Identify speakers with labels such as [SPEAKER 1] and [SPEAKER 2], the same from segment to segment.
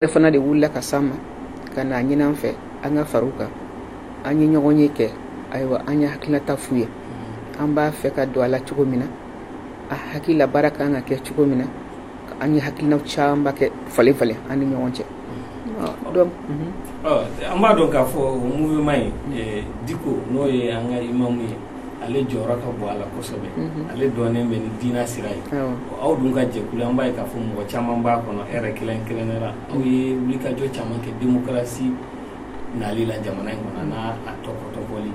[SPEAKER 1] e fana de wulila ka s'an ma ka n'a ɲin'an fɛ an ka far'u kan an ye ɲɔgɔn ye kɛ ayiwa an ye hakilinata f'u ye mm-hmm. an b'a fɛ ka don a la cogo min na an hakili la baara kan ka kɛ cogo min na an ye hakilinaw camanba kɛ falen falen an ni ɲɔgɔn cɛ mm-hmm.
[SPEAKER 2] an b'a dɔn k'a fɔ mouvement ye diko n'o ye an ka imamu ye ale jɔyɔrɔ ka bon a la kosɛbɛ ale dɔnnen bɛ ni diinɛ sira ye aw dun ka jɛkulu an b'a ye k'a fɔ mɔgɔ caman b'a kɔnɔ yɛrɛ kelen kelenna aw ye wulikajɔ caman kɛ démocratie nali la jamana in kɔnɔ n'a tɔpɔtɔli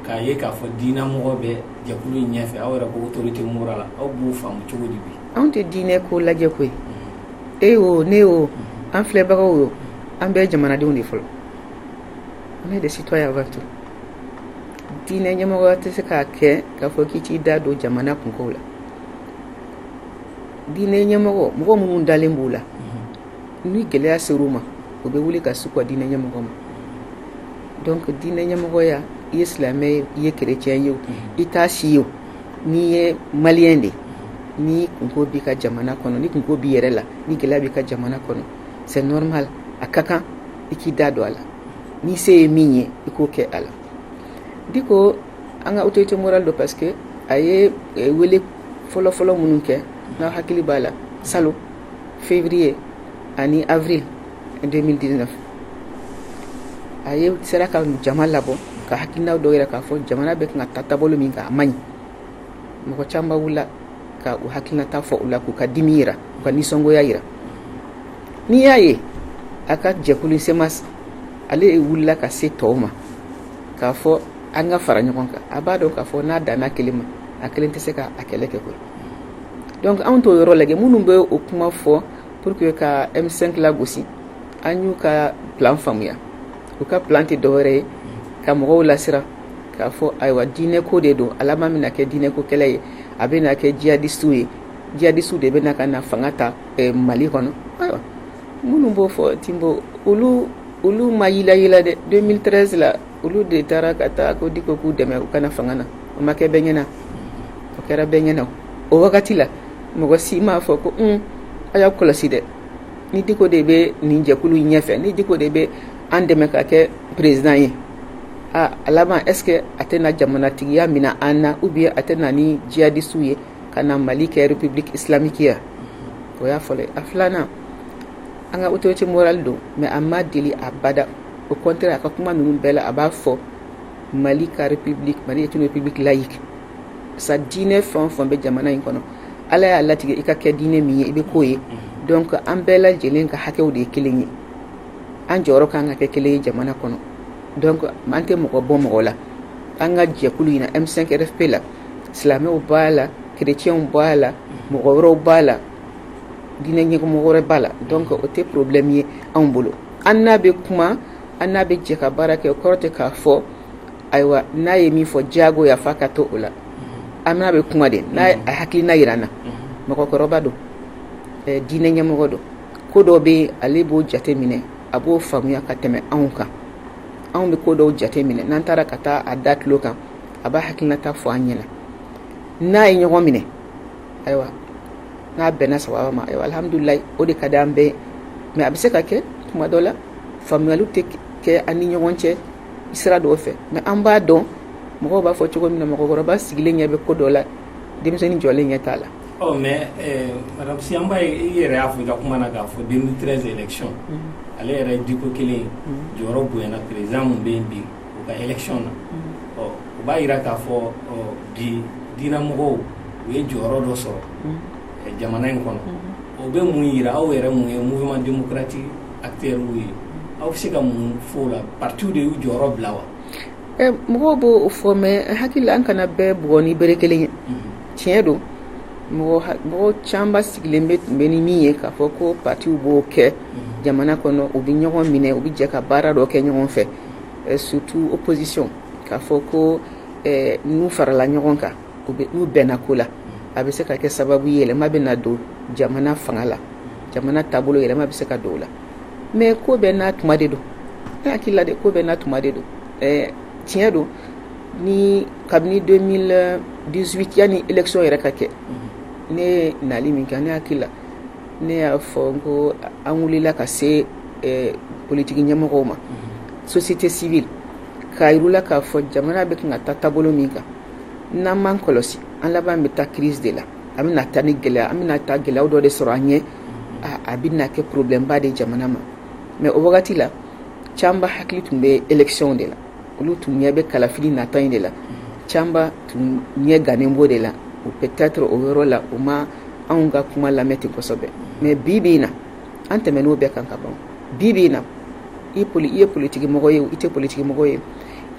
[SPEAKER 2] k'a ye k'a fɔ diinɛ mɔgɔ bɛ jɛkulu in ɲɛfɛ aw yɛrɛ ko autorité morale aw b'o faamu cogo di bi anw tɛ diinɛ
[SPEAKER 1] ko lajɛ koyi e o ne o an filɛbagaw o an bɛɛ jamanadenw de fɔlɔ on est des citoyens avant tout diinɛ ɲɛmɔgɔ tɛ se k'a kɛ k'a fɔ k'i t'i da don jamana kunkow la diinɛ ɲɛmɔgɔ mɔgɔ minnu dalen b'o la ni gɛlɛya ser'u ma u bɛ wuli ka s'u ka diinɛ ɲɛmɔgɔ ma donc diinɛ ɲɛmɔgɔya i ye silamɛ ye i ye chrétien ye o i t'a si ye o n'i ye maliyɛn de ye ni kunko b'i ka jamana kɔnɔ ni kunko b'i yɛrɛ la ni gɛlɛya b'i ka jamana kɔnɔ c'est normal a ka kan i k'i da don a la n'i se ye min ye i k'o kɛ a la diko an ka autorité morale don parce que a ye wele fɔlɔfɔlɔ minnu kɛ n'a hakili b'a la salon février ani avril deux mille dix-neuf a ye sera ka jama labɔ ka hakilina dɔw jira k'a fɔ jamana bɛ kan ka taa taabolo min kan a man ɲi mɔgɔ caman wulila ka u hakilinata fɔ u la k'u ka dimi jira u ka nisɔngoya jira n'i y'a ye a ka jɛkulu CMAS ale ye wulila ka se tɔw ma k'a fɔ an ka fara ɲɔgɔn kan a b'a dɔn k'a fɔ n'a danna kelen ma a kelen tɛ se k'a kɛlɛ kɛ koyi donc anw t'o yɔrɔ lajɛ minnu bɛ o kuma fɔ pour que ka M5 lagosi an y'u ka plan faamuya u ka plan tɛ dɔwɛrɛ ye ka mɔgɔw lasiran k'a fɔ ayiwa diinɛko de don a laban bɛna kɛ diinɛko kɛlɛ ye a bɛna kɛ jihadistiw ye jihadistiw de bɛna ka na fanga ta eh, mali kɔnɔ ayiwa minnu b'o fɔ timbo olu ma yilayi dɛ deux mille treize la olu de taara ka taa ko diko k'u dɛmɛ u ka na fanga na o ma kɛ bɛɛ ɲɛna o kɛra bɛɛ ɲɛna o wagati la mɔgɔ si m'a fɔ ko h a y'a kɔlɔsi dɛ ni diko de bɛ nin jɛkulu in ɲɛfɛ ni diko de bɛ an dɛmɛ ka kɛ président ye aaa a laban est-ce que a tɛna jamanatigiya minɛ an na ou bien a tɛ na ni jihadistiw ye kana mali kɛ république islamique ya o y'a fɔlɔ ye a filanan an ka autorité morale don mais a ma deli abada au contraire a ka kuma ninnu bɛɛ la a b'a fɔ mali ka république mali est une république laïque sa diinɛ fɛn o fɛn bɛ jamana in kɔnɔ ala y'a latigɛ i ka kɛ diinɛ min ye i bɛ k'o ye donc an bɛɛ lajɛlen ka hakɛw de ye kelen ye an jɔyɔrɔ kan ka kɛ kelen ye jamana kɔnɔ donc an tɛ mɔgɔ bɔ mɔgɔ la an ka jɛkulu in na M5 RFP la silamɛw b'a la kerecɛnw b'a la mɔgɔ wɛrɛw b'a la diinɛ ɲɛmɔgɔ wɛrɛ b'a la donc o tɛ problème ye anw bolo an n'a bɛ kuma an n'a bɛ jɛ ka baara kɛ o kɔrɔ tɛ k'a fɔ ayiwa n'a ye min fɔ jagoya f'a ka to o la an n'a bɛ kuma de n'a a hakilina jira an na mɔgɔkɔrɔba don diinɛ ɲɛmɔgɔ don ko dɔ bɛ ale b'o jate minɛ a b'o faamuya ka tɛmɛ anw kan anw bɛ ko dɔw jate minɛ n'an taara ka taa a da tulo kan a b'a hakilinata fɔ an ɲɛna n'a ye ɲɔgɔn minɛ ayiwa n'a bɛnna sababa ma ayiwa alhamdulilayi o de ka di an bɛɛ mais a bɛ se ka kɛ tuma dɔ la faamuyaliw tɛ kɛ an ni ɲɔgɔn cɛ sira dɔw fɛ mais an b'a dɔn mɔgɔw b'a fɔ cogo min na mɔgɔkɔrɔba sigilen ɲɛ bɛ ko dɔ la denmisɛnnin jɔlen ɲɛ t'a la ɔ mais
[SPEAKER 2] eh, madame si an b'a ye i yɛrɛ y'a fɔ i ka kuma na k'a fɔ 2013 élection mm-hmm. ale yɛrɛ ye diko kelen mm-hmm. jɔyɔrɔ bonyana président min bɛ yen bi u ka élection na ɔ u b'a jira k'a fɔ bi diinɛ mɔgɔw u ye jɔyɔrɔ dɔ sɔrɔ jamana in kɔnɔ o bɛ mun jira aw yɛrɛ min ye mouvement démocratique acteurw ye aw bɛ se ka mun fɔ o la partiw de y'u jɔyɔrɔ bila wa
[SPEAKER 1] mɔgɔw b'o fɔ mais hakili la an kana bɛɛ bugɔ ni bere kelen ye tiɲɛ don mɔgɔ camanba sigilen bɛ tun bɛ ni min ye k'a fɔ ko partiw b'o kɛ jamana kɔnɔ u bɛ ɲɔgɔn minɛ u bɛ jɛ ka baara dɔ kɛ ɲɔgɔn fɛ surtout opposition k'a fɔ ko n'u farala ɲɔgɔn kan n'u bɛnna ko la a bɛ se ka kɛ sababu yɛlɛma bɛna don jamana fanga la jamana taabolo yɛlɛma bɛ se ka don o la mais ko bɛɛ n'a tuma de don n hakili la de ko bɛɛ n'a tuma de don tiɲɛ don ni kabini 2018 yanni élection yɛrɛ ka kɛ ne naali min kɛ ne hakili la ne y'a fɔ n ko an wulila ka se eh, politiki ɲɛmɔgɔw ma société civile k'a yira u la k'a fɔ jamana bɛ kan ka taa taabolo min kan n'an m'an kɔlɔsi an laban bɛ taa crise de la an bɛna taa ni gɛlɛya an bɛna taa gɛlɛyaw dɔ de sɔrɔ an ɲɛ a bɛna kɛ problème ba de jamana ma mais o wagati la camanba hakili tun bɛ élection de la olu tun ɲɛ bɛ kalafili nata in de la caman tun ɲɛ gannen b'o de la o peut-être o yɔrɔ la u ma anw ka kuma lamɛn ten kosɛbɛ mais bi bi in na an tɛmɛn'o bɛɛ kan ka ban bi bi in na i ye politigimɔgɔ ye i tɛ politigimɔgɔ ye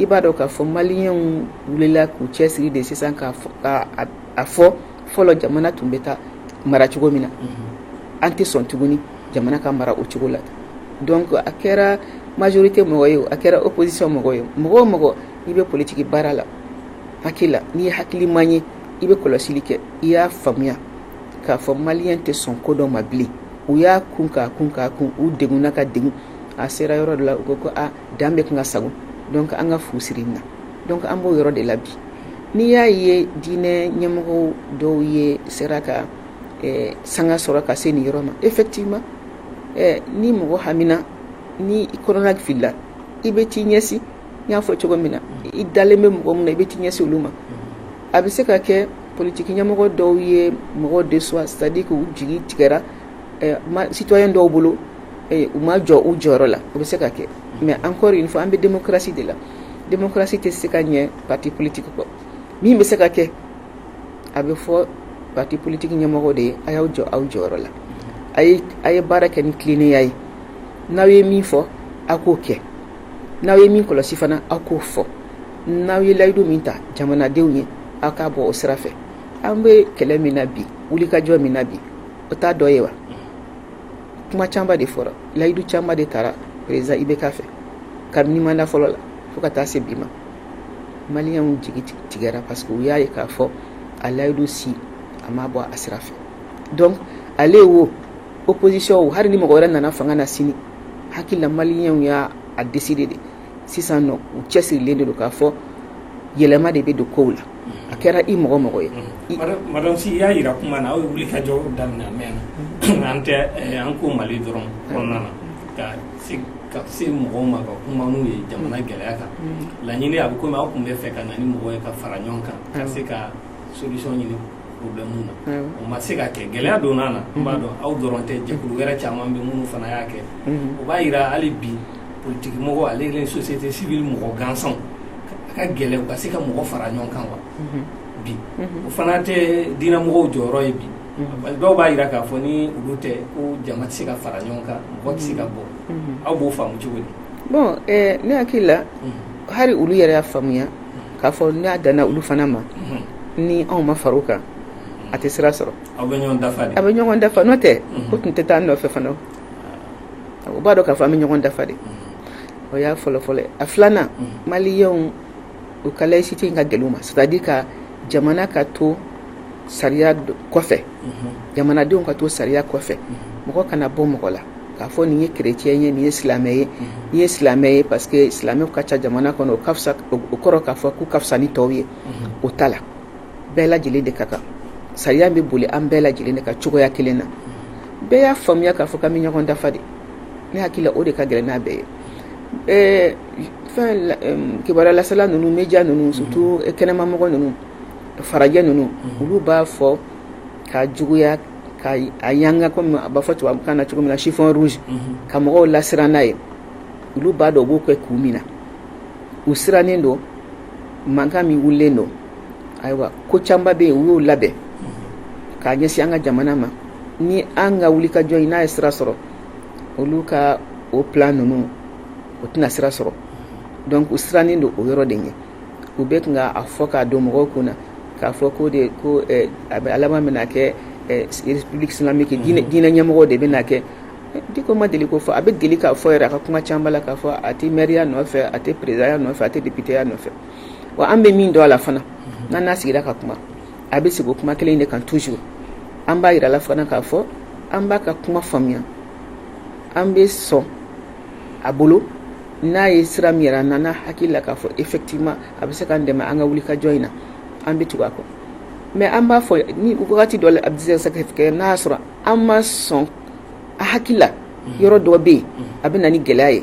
[SPEAKER 1] i b'a dɔn k'a fɔ maliyɛnw wulila k'u cɛ siri de sisan k'a fɔ fɔlɔ jamana tun bɛ taa mara cogo min na an tɛ sɔn tuguni jamana ka mara o cogo la donc a kɛra majorité mɔgɔ ye a kɛra opposition mɔgɔ ye mɔgɔ o mɔgɔ i bɛ politigi baara la hakili la n'i ye hakiliman ye i bɛ kɔlɔsili kɛ i y'a faamuya k'a fɔ maliyɛn tɛ sɔn ko dɔ ma bilen u y'a kun k'a kun k'a kun u degunna ka degun a sera yɔrɔ dɔ la u ko ko a dan bɛ kan ka sago donc an ka fu siri na donc an b'o yɔrɔ de la bi n'i y'a ye diinɛ ɲɛmɔgɔ dɔw ye sera ka sanga sɔrɔ ka se nin yɔrɔ ma effectivement ni mɔgɔ haminna ni kɔnɔnafilila i bɛ t'i ɲɛsin n y'a fɔ cogo min na i dalen bɛ mɔgɔ min na i bɛ t'i ɲɛsin olu ma a bɛ se ka kɛ politigi ɲɛmɔgɔ dɔw ye mɔgɔ déçoit c'est-à-dire k'u jigi tigɛra citoyen dɔw bolo u ma jɔ u jɔyɔrɔ la o bɛ se ka kɛ mais encore une fois an bɛ démocratie de la démocratie tɛ se ka ɲɛ parti politique kɔ min bɛ se ka kɛ a bɛ fɔ parti politique ɲɛmɔgɔ de ye a y'aw jɔ aw jɔyɔrɔ la a ye baara kɛ ni tilennenya ye n'aw ye min fɔ aw k'o kɛ n'aw ye min kɔlɔsi fana aw k'o fɔ n'aw ye layidu min ta jamanadenw ye aw k'a bɔ o sira fɛ an bɛ kɛlɛ min na bi wulikajɔ min na bi o t'a dɔ ye wa kuma caman de fɔra layidu caman de tara président IBK fɛ kabini mandat fɔlɔ la fo ka taa se bi ma Maliyɛnw jigi tigɛra parce que u y'a ye k'a fɔ a layidu si a ma bɔ a sira fɛ donc ale wo opposition wo hali ni mɔgɔ wɛrɛ nana fanga na sini hakilila maliyɛnw y'a décidé de sisan nɔ u cɛ sirilen de don k'a fɔ yɛlɛma de bɛ don kow la a kɛra i mɔgɔ o mɔgɔ ye madame Sy i y'a
[SPEAKER 2] jira kuma na aw ye wulikajɔ daminɛ a mɛnna an tɛ an ko mali dɔrɔn kɔnɔna na ka se mɔgɔw ma ka kuma n'u ye jamana gɛlɛya kan laɲini a bɛ komi aw tun bɛ fɛ ka na ni mɔgɔ ye ka fara ɲɔgɔn kan ka se ka solution ɲini problème na o ma se ka kɛ gɛlɛya donna na n b'a dɔn aw dɔrɔn tɛ jɛkulu wɛrɛ caman bɛ minnu fana y'a kɛ o b'a jira hali bi politiki mɔgɔ ale ni société civile mɔgɔ gansanw a ka gɛlɛ u ka se ka mɔgɔ fara ɲɔgɔn kan wa bi o fana tɛ diinɛ mɔgɔw jɔyɔrɔ ye bi dɔw b'a jira k'a fɔ ni olu tɛ ko jama tɛ se ka fara ɲɔgɔn kan mɔgɔ tɛ se ka bɔ aw b'o faamu cogo di bon ne
[SPEAKER 1] hakili la hali olu yɛrɛ y'a faamuya k'a fɔ n'a danna olu fana ma ni anw ma fara o kan a tɛ sira sɔrɔ an
[SPEAKER 2] bɛ ɲɔgɔn dafa n'o
[SPEAKER 1] tɛ u tun tɛ taa nɔfɛ fana u b'a dɔn k'a fɔ an bɛ ɲɔgɔn dafa de o y'a fɔlɔfɔlɔ a filanan maliyɛnw u ka laïcité in ka gɛlɛn u ma c'est-à-dire ka jamana ka to sariya kɔfɛ jamanadenw ka to sariya kɔfɛ mɔgɔ kana bɔ mɔgɔ la k'a fɔ nin ye kerecɛn ye nin ye silamɛ ye nin ye silamɛ ye parce que silamɛw ka ca jamana kɔnɔ o kɔrɔ k'a fɔ k'u ka fisa ni tɔw ye o t'a la bɛɛ lajɛlen de ka kan sariya bɛ boli an bɛɛ lajɛlen de kan cogoya kelen na bɛɛ y'a faamuya k'a fɔ k'an bɛ ɲɔgɔn dafa de ne hakili la o de ka gɛlɛn n'a bɛɛ ye ɛɛ fɛn la ɛɛ kibaruya lasela ninnu media ninnu surtout kɛnɛmamɔgɔ ninnu farajɛ ninnu olu b'a fɔ k'a juguya ka a yanga comme a b'a fɔ tubabukan na cogo min na chiffon rouge ka mɔgɔw lasiran n'a ye olu b'a dɔn u b'o kɛ kun min na u sirannen don mankan min wulilen don ayiwa ko camanba bɛ yen u y'o labɛn k'a ɲɛsin an ka jamana ma ni an ka wulikajɔ in n'a ye sira sɔrɔ olu ka o plan ninnu o tɛna sira sɔrɔ donc u sirannen don o yɔrɔ de ye u bɛ kan k'a fɔ k'a don mɔgɔw kun na k'a fɔ ko diko a bɛ a laban bɛna kɛ république islamique diinɛ ɲɛmɔgɔw de bɛna kɛ diko ma deli k'o fɔ a bɛ deli k'a fɔ yɛrɛ a ka kuma caman la k'a fɔ a tɛ mɛriya nɔfɛ a tɛ perezidanya nɔfɛ a tɛ depiteya nɔfɛ wa an bɛ min dɔn a la fana n'an n'a sigira ka kuma a bɛ segin o kuma kelen de kan toujours an b'a jira la fana k'a fɔ an b'a ka kuma faamuya an bɛ sɔn a bolo n'a ye sira min yira an na n'an hakili la k'a fɔ effectivement a bɛ se k'an dɛmɛ an ka wulikajɔ in na an bɛ tugu a kɔ mais an b'a fɔ ni wagati dɔ la a bɛ se ka kɛ n'a y'a sɔrɔ an ma sɔn a hakili la yɔrɔ dɔ bɛ yen a bɛ na ni gɛlɛya ye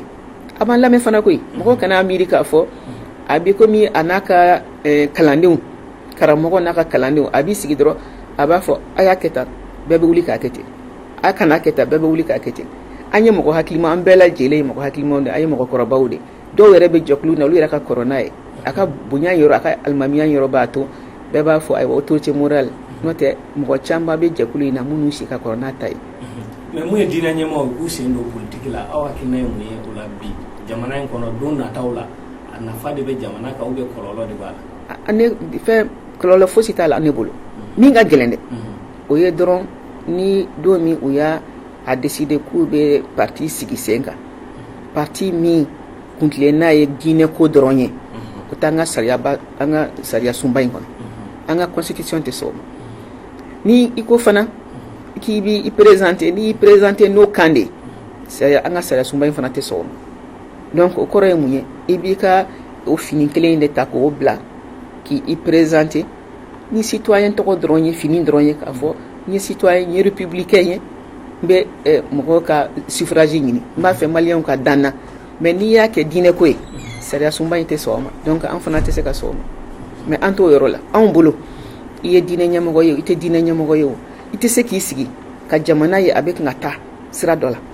[SPEAKER 1] a b'an lamɛn fana koyi mɔgɔ kana a miiri k'a fɔ a bɛ komi a n'a ka eh, kalandenw karamɔgɔ n'a ka kalandenw a b'i sigi dɔrɔn a b'a fɔ a y'a kɛ tan bɛɛ bɛ wuli k'a kɛ ten a kana kɛ tan bɛɛ bɛ wuli k'a kɛ ten an ye mɔgɔ hakilima an bɛɛ lajɛlen ye mɔgɔ hakilimaw de an ye mɔgɔkɔrɔbaw de dɔw yɛrɛ bɛ jɛkulu na olu yɛrɛ ka kɔrɔ n'a ye a ka bonya yɔrɔ a ka alimamiya yɔrɔ b'a to bɛɛ b'a fɔ ayiwa autorité morale n'o tɛ mɔgɔ caman bɛ jɛkulu in na minnu si ka kɔrɔ n'a ta ye mais mun
[SPEAKER 2] ye diinɛ ɲɛmɔgɔw k'u sen don politiki la aw hakilina ye mun ye o la bi jamana in kɔnɔ don nataw la a nafa de bɛ jamana kan ou bien kɔlɔlɔ de b'a la
[SPEAKER 1] ne fɛ kɔlɔlɔ fosi t'a la ne bolo min ka gɛlɛn dɛ o ye dɔrɔn ni don min u y'a décidé k'u bɛ pati sigi sen kan pati min kuntilenna ye diinɛ ko dɔrɔn ye o t'an ka sariya an ka sariya sunba in kɔnɔ an ka constitution tɛ sɔn o ma n'i ko fana k'i bɛ i présenter n'i y'i présenter n'o kan de sariya an ka sariya sunba in fana tɛ sɔn o ma donc o kɔrɔ ye mun ye i b'i ka o fini kelen in de ta k'o bila k' i présenter ni citoyen tɔgɔ dɔrɔn ye fini dɔrɔn ye k'a fɔ ne ye citoyen ye républicain ye n bɛ mɔgɔw ka suffrage ɲini n b'a fɛ maliyɛnw ka da n na mais n'i y'a kɛ diinɛ ko ye sariya sunba in tɛ sɔn o ma donc an fana tɛ se ka sɔn o ma mais an t'o yɔrɔ la anw bolo i ye diinɛ ɲɛmɔgɔ ye i tɛ diinɛ ɲɛmɔgɔ ye o i tɛ se k'i sigi ka jamana ye a bɛ ka taa sira dɔ la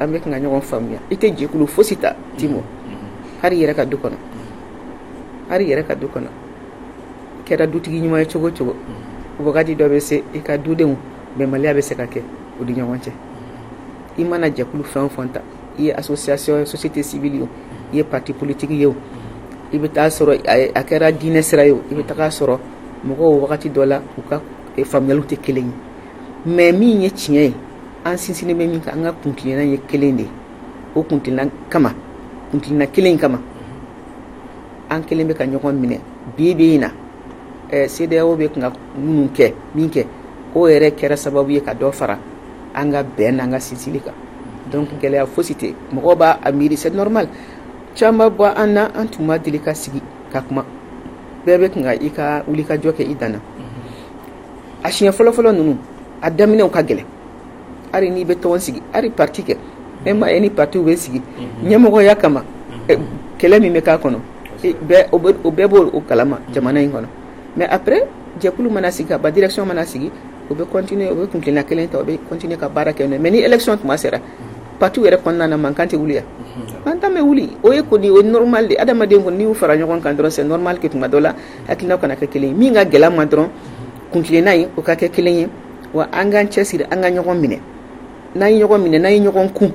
[SPEAKER 2] an
[SPEAKER 1] bɛ ka ɲɔgɔn faamuya i tɛ jɛkulu fosi ta te ma hali i yɛrɛ ka du kɔnɔ hali i yɛrɛ ka du kɔnɔ i kɛra dutigi ɲuman ye cogo o cogo wagati dɔ bɛ se i ka dudenw bɛnbaliya bɛ se ka kɛ u ni ɲɔgɔn cɛ i mana jɛkulu fɛn o fɛn ta i ye association société civile ye i ye pati politiki ye i bɛ t'a sɔrɔ a kɛra diinɛ sira ye i bɛ t'a sɔrɔ mɔgɔw wagati dɔ la u ka e faamuyali tɛ kelen ye mais min ye tiɲɛ ye an sinsinnen bɛ min kan an ka kuntilenna ye kelen de ye o kuntilenna kama kuntilenna kelen in kama an kɛlen bɛ ka ɲɔgɔn minɛ bi bi in na CEDEAO bɛ ka minnu kɛ min kɛ o yɛrɛ kɛra sababu ye ka dɔ fara an ka bɛn n'an ka sinsili kan donc gɛlɛya fosi tɛ mɔgɔ b'a miiri c'est normal caman bɔ an na an tun ma deli ka sigi ka kuma bɛɛ bɛ tun k'i ka wulikajɔ kɛ i dan na a siɲɛ fɔlɔfɔlɔ ninnu a daminɛw ka gɛlɛn hali n'i bɛ tɔn sigi hali pati kɛ e m'a ye ni patiw bɛ sigi mhm. ɲɛmɔgɔya kama mhm. kɛlɛ min bɛ k'a kɔnɔ o bɛɛ b'o kalama mhm. jamana in kɔnɔ mais après jɛkulu mana sigi kaban direction mana sigi o bɛ continuer o bɛ kuntilenna kelen ta o bɛ continuer ka baara kɛ mais ni élection tuma sera pati yɛrɛ kɔnɔna na mankan tɛ wuli yan mankan bɛ wuli o ye kɔni o normal de adamaden kɔni n'u fara ɲɔgɔn kan dɔrɔn normal que tuma dɔ la hakilina kana kɛ kelen min ka gɛlɛn an ma dɔrɔn kuntilenna ye o ka kɛ kelen ye wa an k'an cɛ siri an ka ɲɔgɔn minɛ n'an ye ɲɔgɔn minɛ n'an ye ɲɔgɔn kun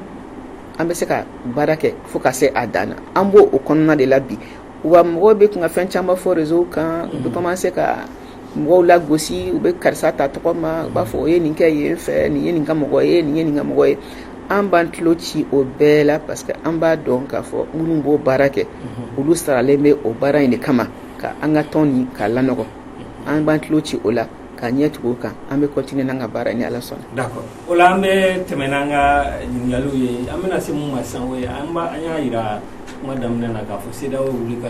[SPEAKER 1] an bɛ se ka baara kɛ fo ka se a dan an b' o kɔnɔna de la bi wa mɔgɔ bɛ tun ka fɛn caman fɔ réseau kan u bɛ commencer ka mɔgɔw lagosi u bɛ karisa ta tɔgɔ ma u b'a fɔ u ye nin kɛ yen fɛ nin ye nin ka mɔgɔ ye nin ye nin ka mɔgɔ ye an b'an tulo ci o bɛɛ la parce que an b'a dɔn k'a fɔ minnu b'o baara kɛ mhm. olu saralen bɛ o baara in de kama ka an ka tɔn nin k'a lanɔgɔ an b'an tulo ci o la k'an ɲɛ tugu o kan an bɛ continuer n'an ka baara ye ni ala sɔnna d'accord o la an
[SPEAKER 2] bɛ tɛmɛ n'an ka ɲininkaliw ye an bɛna se mun ma sisan o ye an y'a jira kuma daminɛ na k'a fɔ CEDEAO wuli ka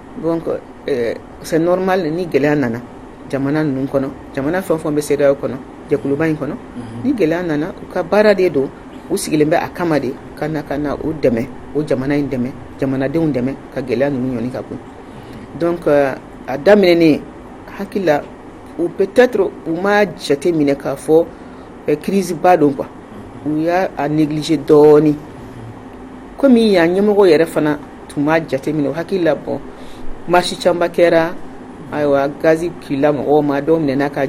[SPEAKER 2] Donc ɛɛ c'est normal ni gɛlɛya nana jamana ninnu kɔnɔ, jamana fɛn o fɛn bɛ CEDEAO kɔnɔ, jɛkuluba in kɔnɔ, unhun, ni gɛlɛya nana u ka baara de don, u sigilen bɛ a kama de ka na ka na u dɛmɛ, o jamana in dɛmɛ, jamanadenw dɛmɛ ka gɛlɛya ninnu ɲɔni ka bɔ yen donc a daminɛ ne hakili la ou peut être u ma jate minɛ k'a
[SPEAKER 1] fɔ crise ba don quoi u y'a negliger dɔɔnin comme yan ɲɛmɔgɔ yɛrɛ fana tun b'a jateminɛ o hakili la bon marche camanba kɛra ayiwa gazi kila mɔgɔ ma dɔw minɛna ka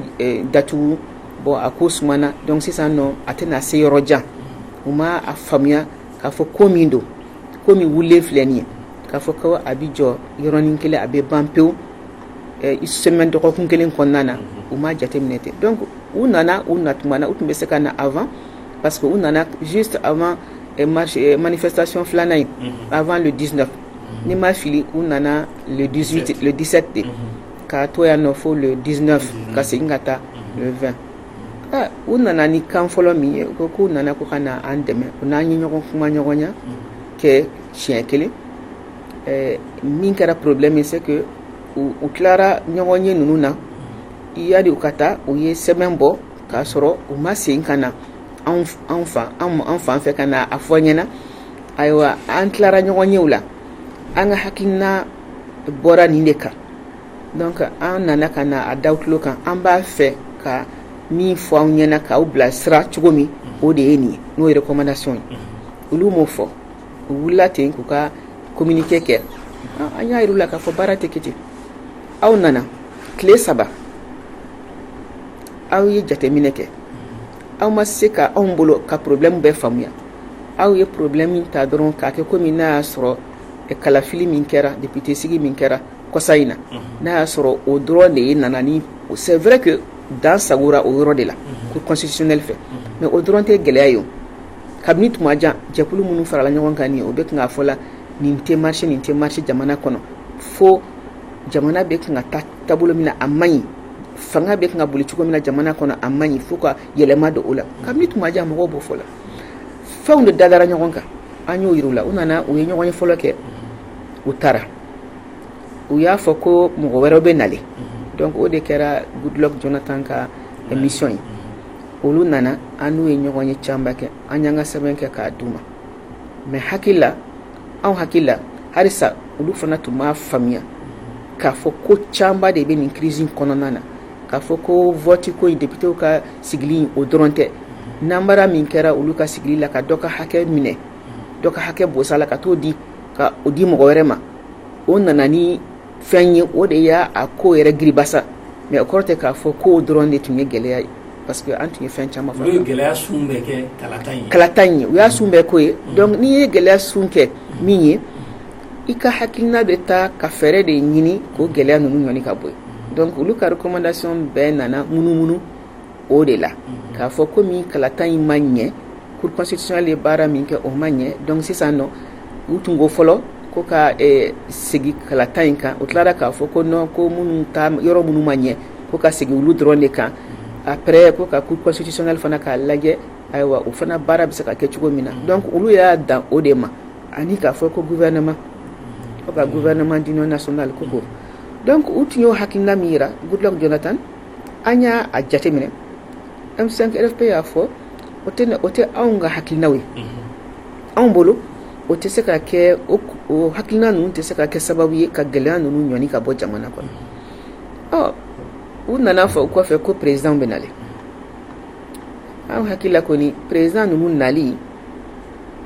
[SPEAKER 1] datugu bon a ko sumana donc sisan nɔ a tɛna se yɔrɔ jan u ma a faamuya k'a fɔ ko min don ko min wililen filɛ nin ye k'a fɔ ko a bɛ jɔ yɔrɔnin kelen a bɛ ban pewu semaine dɔgɔkun kelen kɔnɔna na u ma jateminɛ ten donc u nana u na tuma na u tun bɛ se ka na a parce que u nana juste avant manifestation filanan in avant le 19 ni n ma fili u nana le 18 le 17 de ka to yan nɔ fo le 19 ka segin ka taa le 20 aa u nana ni kan fɔlɔ min ye u ko k'u nana ko ka na an dɛmɛ u n'an ye ɲɔgɔn kumaɲɔgɔnya kɛ siɲɛ kelen ɛɛ min kɛra problème ye c'est que u tilara ɲɔgɔnye ninnu na yani u ka taa u ye sɛbɛn bɔ k'a sɔrɔ u ma segin ka na anw fɛ an fan fɛ ka na a fɔ an ɲɛna ayiwa an tilara ɲɔgɔnyew la an ka hakilina bɔra nin de kan donc an nana ka na a da aw tulo kan an b'a fɛ ka min fɔ aw ɲɛna k'aw bilasira cogo min o de ye nin ye n'o ye recommandation ye olu m'o fɔ u wulila ten k'u ka communiqué kɛ an y'a yir'u la k'a fɔ baara tɛ kɛ ten aw nana tile saba aw ye jateminɛ kɛ aw ma se ka anw bolo ka porobilɛmu bɛɛ faamuya aw ye porobilɛmu min ta dɔrɔn k'a kɛ kɔmi n'a y'a sɔrɔ kalafili min kɛra député sigi min kɛra kɔsa in na n'a y'a sɔrɔ o dɔrɔn de ye nana ni c'est vrai que dan sagora o yɔrɔ de la Cour constitutionnelle fɛ mais o dɔrɔn tɛ gɛlɛya ye kabini tuma jan jɛkulu minnu farala ɲɔgɔn kan nin o bɛ kan k'a fɔ la nin tɛ marche nin tɛ marche jamana kɔnɔ fo jamana bɛ kan ka taa taabolo min na a man ɲi fanga bɛ kan ka boli cogo min na jamana kɔnɔ a man ɲi fo ka yɛlɛma don o la kabini tuma jan mɔgɔw b'o fɔ la fɛnw de dadara ɲɔgɔn kan an y'o yir'u la u nana u ye ɲɔgɔnye fɔlɔ kɛ u taara u y'a fɔ ko mɔgɔ wɛrɛw bɛ nale donc o de kɛra Goodluck Jonathan ka mission ye olu nana an n'u ye ɲɔgɔnye camanba kɛ an y'an ka sɛbɛn kɛ k'a d'u ma mais hakili la anw hakili la halisa olu fana tun b'a faamuya k'a fɔ ko caman de bɛ nin crise kɔnɔna na k'a fɔ ko vote ko in députéw ka sigili o dɔrɔn tɛ namara min kɛra olu ka sigili la ka dɔ ka hakɛ minɛ dɔ ka hakɛ bosa la ka taa o di ka o di mɔgɔ wɛrɛ ma o nana ni fɛn ye o de y'a ko yɛrɛ giribasa mais o kɔrɔ tɛ k'a fɔ k'o dɔrɔn de tun ye gɛlɛya ye parce que an tun ye fɛn caman fɔ u ye
[SPEAKER 2] gɛlɛya sun bɛɛ kɛ kalata ye
[SPEAKER 1] u y'a sun bɛɛ k'o ye donc n'i ye gɛlɛya sun kɛ min ye i ka hakilina bɛ taa ka fɛɛrɛ de ɲini k'o gɛlɛya ninnu ɲɔni ka bɔ yen donc olu ka recommandation bɛɛ nana munumunu o de la k'a fɔ ko min kalata in ma ɲɛ cour constitutionnelle ye baara min kɛ o ma ɲɛ donc sisan nɔ u tun ko fɔlɔ ko ka segin kalata in kan o tilara k'a fɔ ko non ko minnu yɔrɔ minnu ma ɲɛ ko ka segin olu dɔrɔn de kan après ko ka cour constitutionnelle fana k'a lajɛ ayiwa o fana baara bɛ se ka kɛ cogo min na donc olu y'a dan o de ma ani k'a fɔ ko gouvernement ka gouvernement d'union nationale ko donc u tun y'o hakilina min jira goodluck jonathan an y'a jateminɛ m5 rfp y'a fɔ o tɛ o tɛ anw ka hakilinaw ye anw bolo o tɛ se ka kɛ o hakilina ninnu tɛ se ka kɛ sababu ye ka gɛlɛya ninnu ɲɔni ka bɔ jamana kɔnɔ ɔ u nana fɔ o kɔfɛ ko président bɛ na anw hakili la kɔni président ninnu nali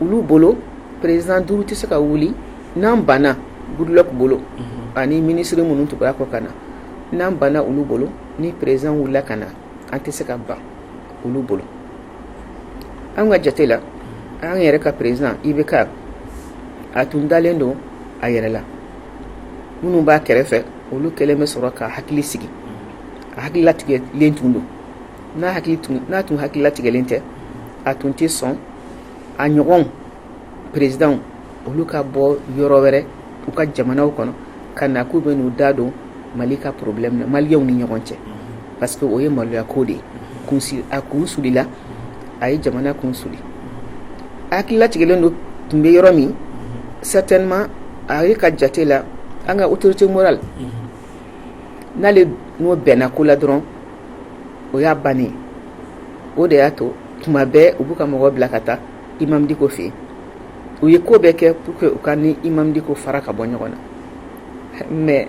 [SPEAKER 1] olu bolo président duuru tɛ se ka wuli n'an banna goodluck bolo ani minisiri minnu tugura a kɔ ka na n'an banna olu bolo ni président wulila ka na an tɛ se ka ban olu bolo an ka jate la an yɛrɛ ka président ibk a tun dalen don a yɛrɛ la minnu b'a kɛrɛfɛ olu kɛlen bɛ sɔrɔ k'a hakili sigi a hakililatigɛlen tun don n'a tun hakililatigɛlen tɛ a tun tɛ sɔn a ɲɔgɔn président olu ka bɔ yɔrɔ wɛrɛ u ka jamanaw kɔnɔ ka na k'u bɛ n'u da don mali ka problème na maliyɛnw ni ɲɔgɔn cɛ parce que o ye maloya ko de ye a kun sulila a ye jamana kun suli a hakililatigɛlen don tun bɛ yɔrɔ min certainement a yɛrɛ ka jate la an ka autorité morale n'ale n'o bɛnna ko la dɔrɔn o y'a bannen o de y'a to tuma bɛɛ u b'u ka mɔgɔ bila ka taa imam dicko fɛ yen u ye ko bɛɛ kɛ pour que u k'an ni imam dicko fara ka bɔ ɲɔgɔn na mais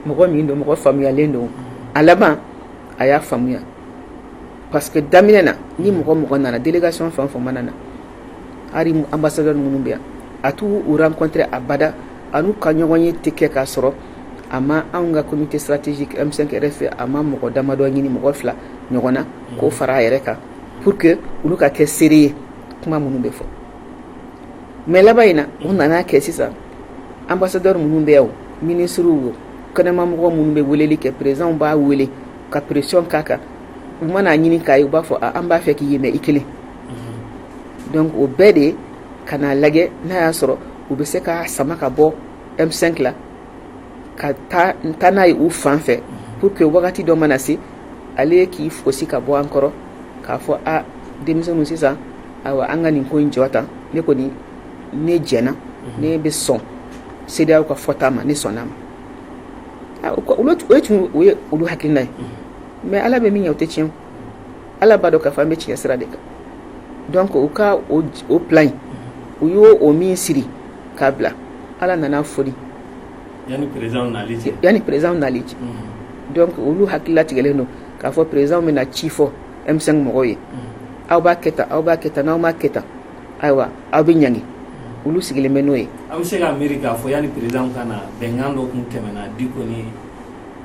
[SPEAKER 1] mɔgɔ min don mɔgɔ faamuyalen don a laban a y'a faamuya parce que daminɛ na ni mɔgɔ mɔgɔ nana délégation fɛn fɛn mana na hali ambassadeur minnu bɛ yan a t'u rencontrer abada a n'u ka ɲɔgɔnye tɛ kɛ k'a sɔrɔ a ma anw ka comité stratégique m5 rfp a ma mɔgɔ damadɔ ɲini mɔgɔ fila ɲɔgɔn na k'o fara a yɛrɛ kan pour que olu ka kɛ seere ye kuma minnu bɛ fɔ mais laban in na u nana kɛ sisan ambassadeur minnu bɛ yan o ministres o kɛnɛmamɔgɔ minnu bɛ weleli kɛ présidents b'a wele ka pression k'a kan u mana a ɲini k'a ye u b'a fɔ an b'a fɛ k'i ye mais i kelen donc o bɛɛ de ka n'a lajɛ n'a y'a sɔrɔ u bɛ se k'a sama ka bɔ M5 la ka taa n'a ye u fan fɛ pour que wagati dɔ mana se ale k'i fosi ka bɔ an kɔrɔ k'a fɔ a denmisɛnw sisan ayiwa an ka nin ko in jɔ tan ne kɔni ne jɛna ne bɛ sɔn CEDEAO ka fɔta ma ne sɔnna a ma o ye tun ye olu hakilina ye mais ala bɛ min ɲɛ o tɛ tiɲɛ ala b'a dɔn k'a fɔ an bɛ tiɲɛ sira de kan donc u ka o plan in u y'o min siri k'a bila ala nana a foni
[SPEAKER 2] yanni
[SPEAKER 1] présidents nali cɛ donc olu hakililatigɛlen don k'a fɔ présidents bɛ na ci fɔ M5 mɔgɔw ye aw b'a kɛ tan aw b'a kɛ tan n'aw m'a kɛ tan ayiwa aw bɛ ɲangi olu sigilen bɛ n'o ye aw bɛ se k'a miiri k'a
[SPEAKER 2] fɔ yanni présidents ka na bɛnkan dɔ tun tɛmɛna Diko ni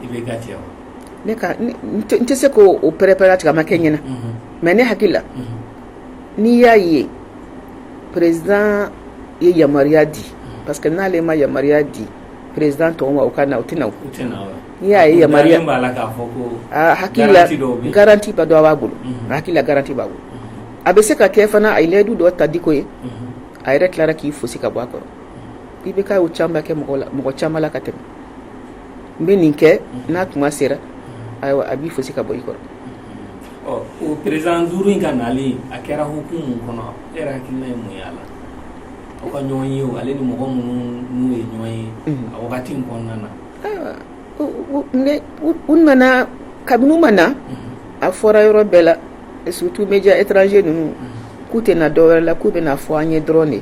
[SPEAKER 2] IBK cɛ wa
[SPEAKER 1] ne tɛ se k'o pɛrɛ-pɛrɛ tigɛ a ma kɛ n ɲɛna mais ne hakili la n'i y'a ye président ye yamaruya di parce que n'ale ma yamaruya di présidents tɔw ma u ka na u tɛ na o n'i y'a ye yama garanti garantiba dɔ b'a bolo hakilila garanti b'a bolo a bɛ se ka kɛ fana a ye layidu dɔ ta Diko ye a yɛrɛ tilara k'i fosi ka bɔ a kɔrɔ IBK y'o caman kɛ mɔgɔ la mɔgɔ caman la ka tɛmɛ n bɛ nin kɛ n'a tuma sera ayiwa a b'i fosi ka bɔ i
[SPEAKER 2] kɔrɔ o président duuru in ka nali a kɛra hukumu mun kɔnɔ e yɛrɛ hakilina ye mun ye a la aw ka ɲɔgɔn ye ale ni mɔgɔ minnu ye ɲɔgɔn ye a wagati in kɔnɔna na
[SPEAKER 1] u nana kabini u ma na a fɔra yɔrɔ bɛɛ la surtout média étranger ninnu k'u tɛ na dɔ wɛrɛ la k'u bɛna a fɔ an ye dɔrɔn de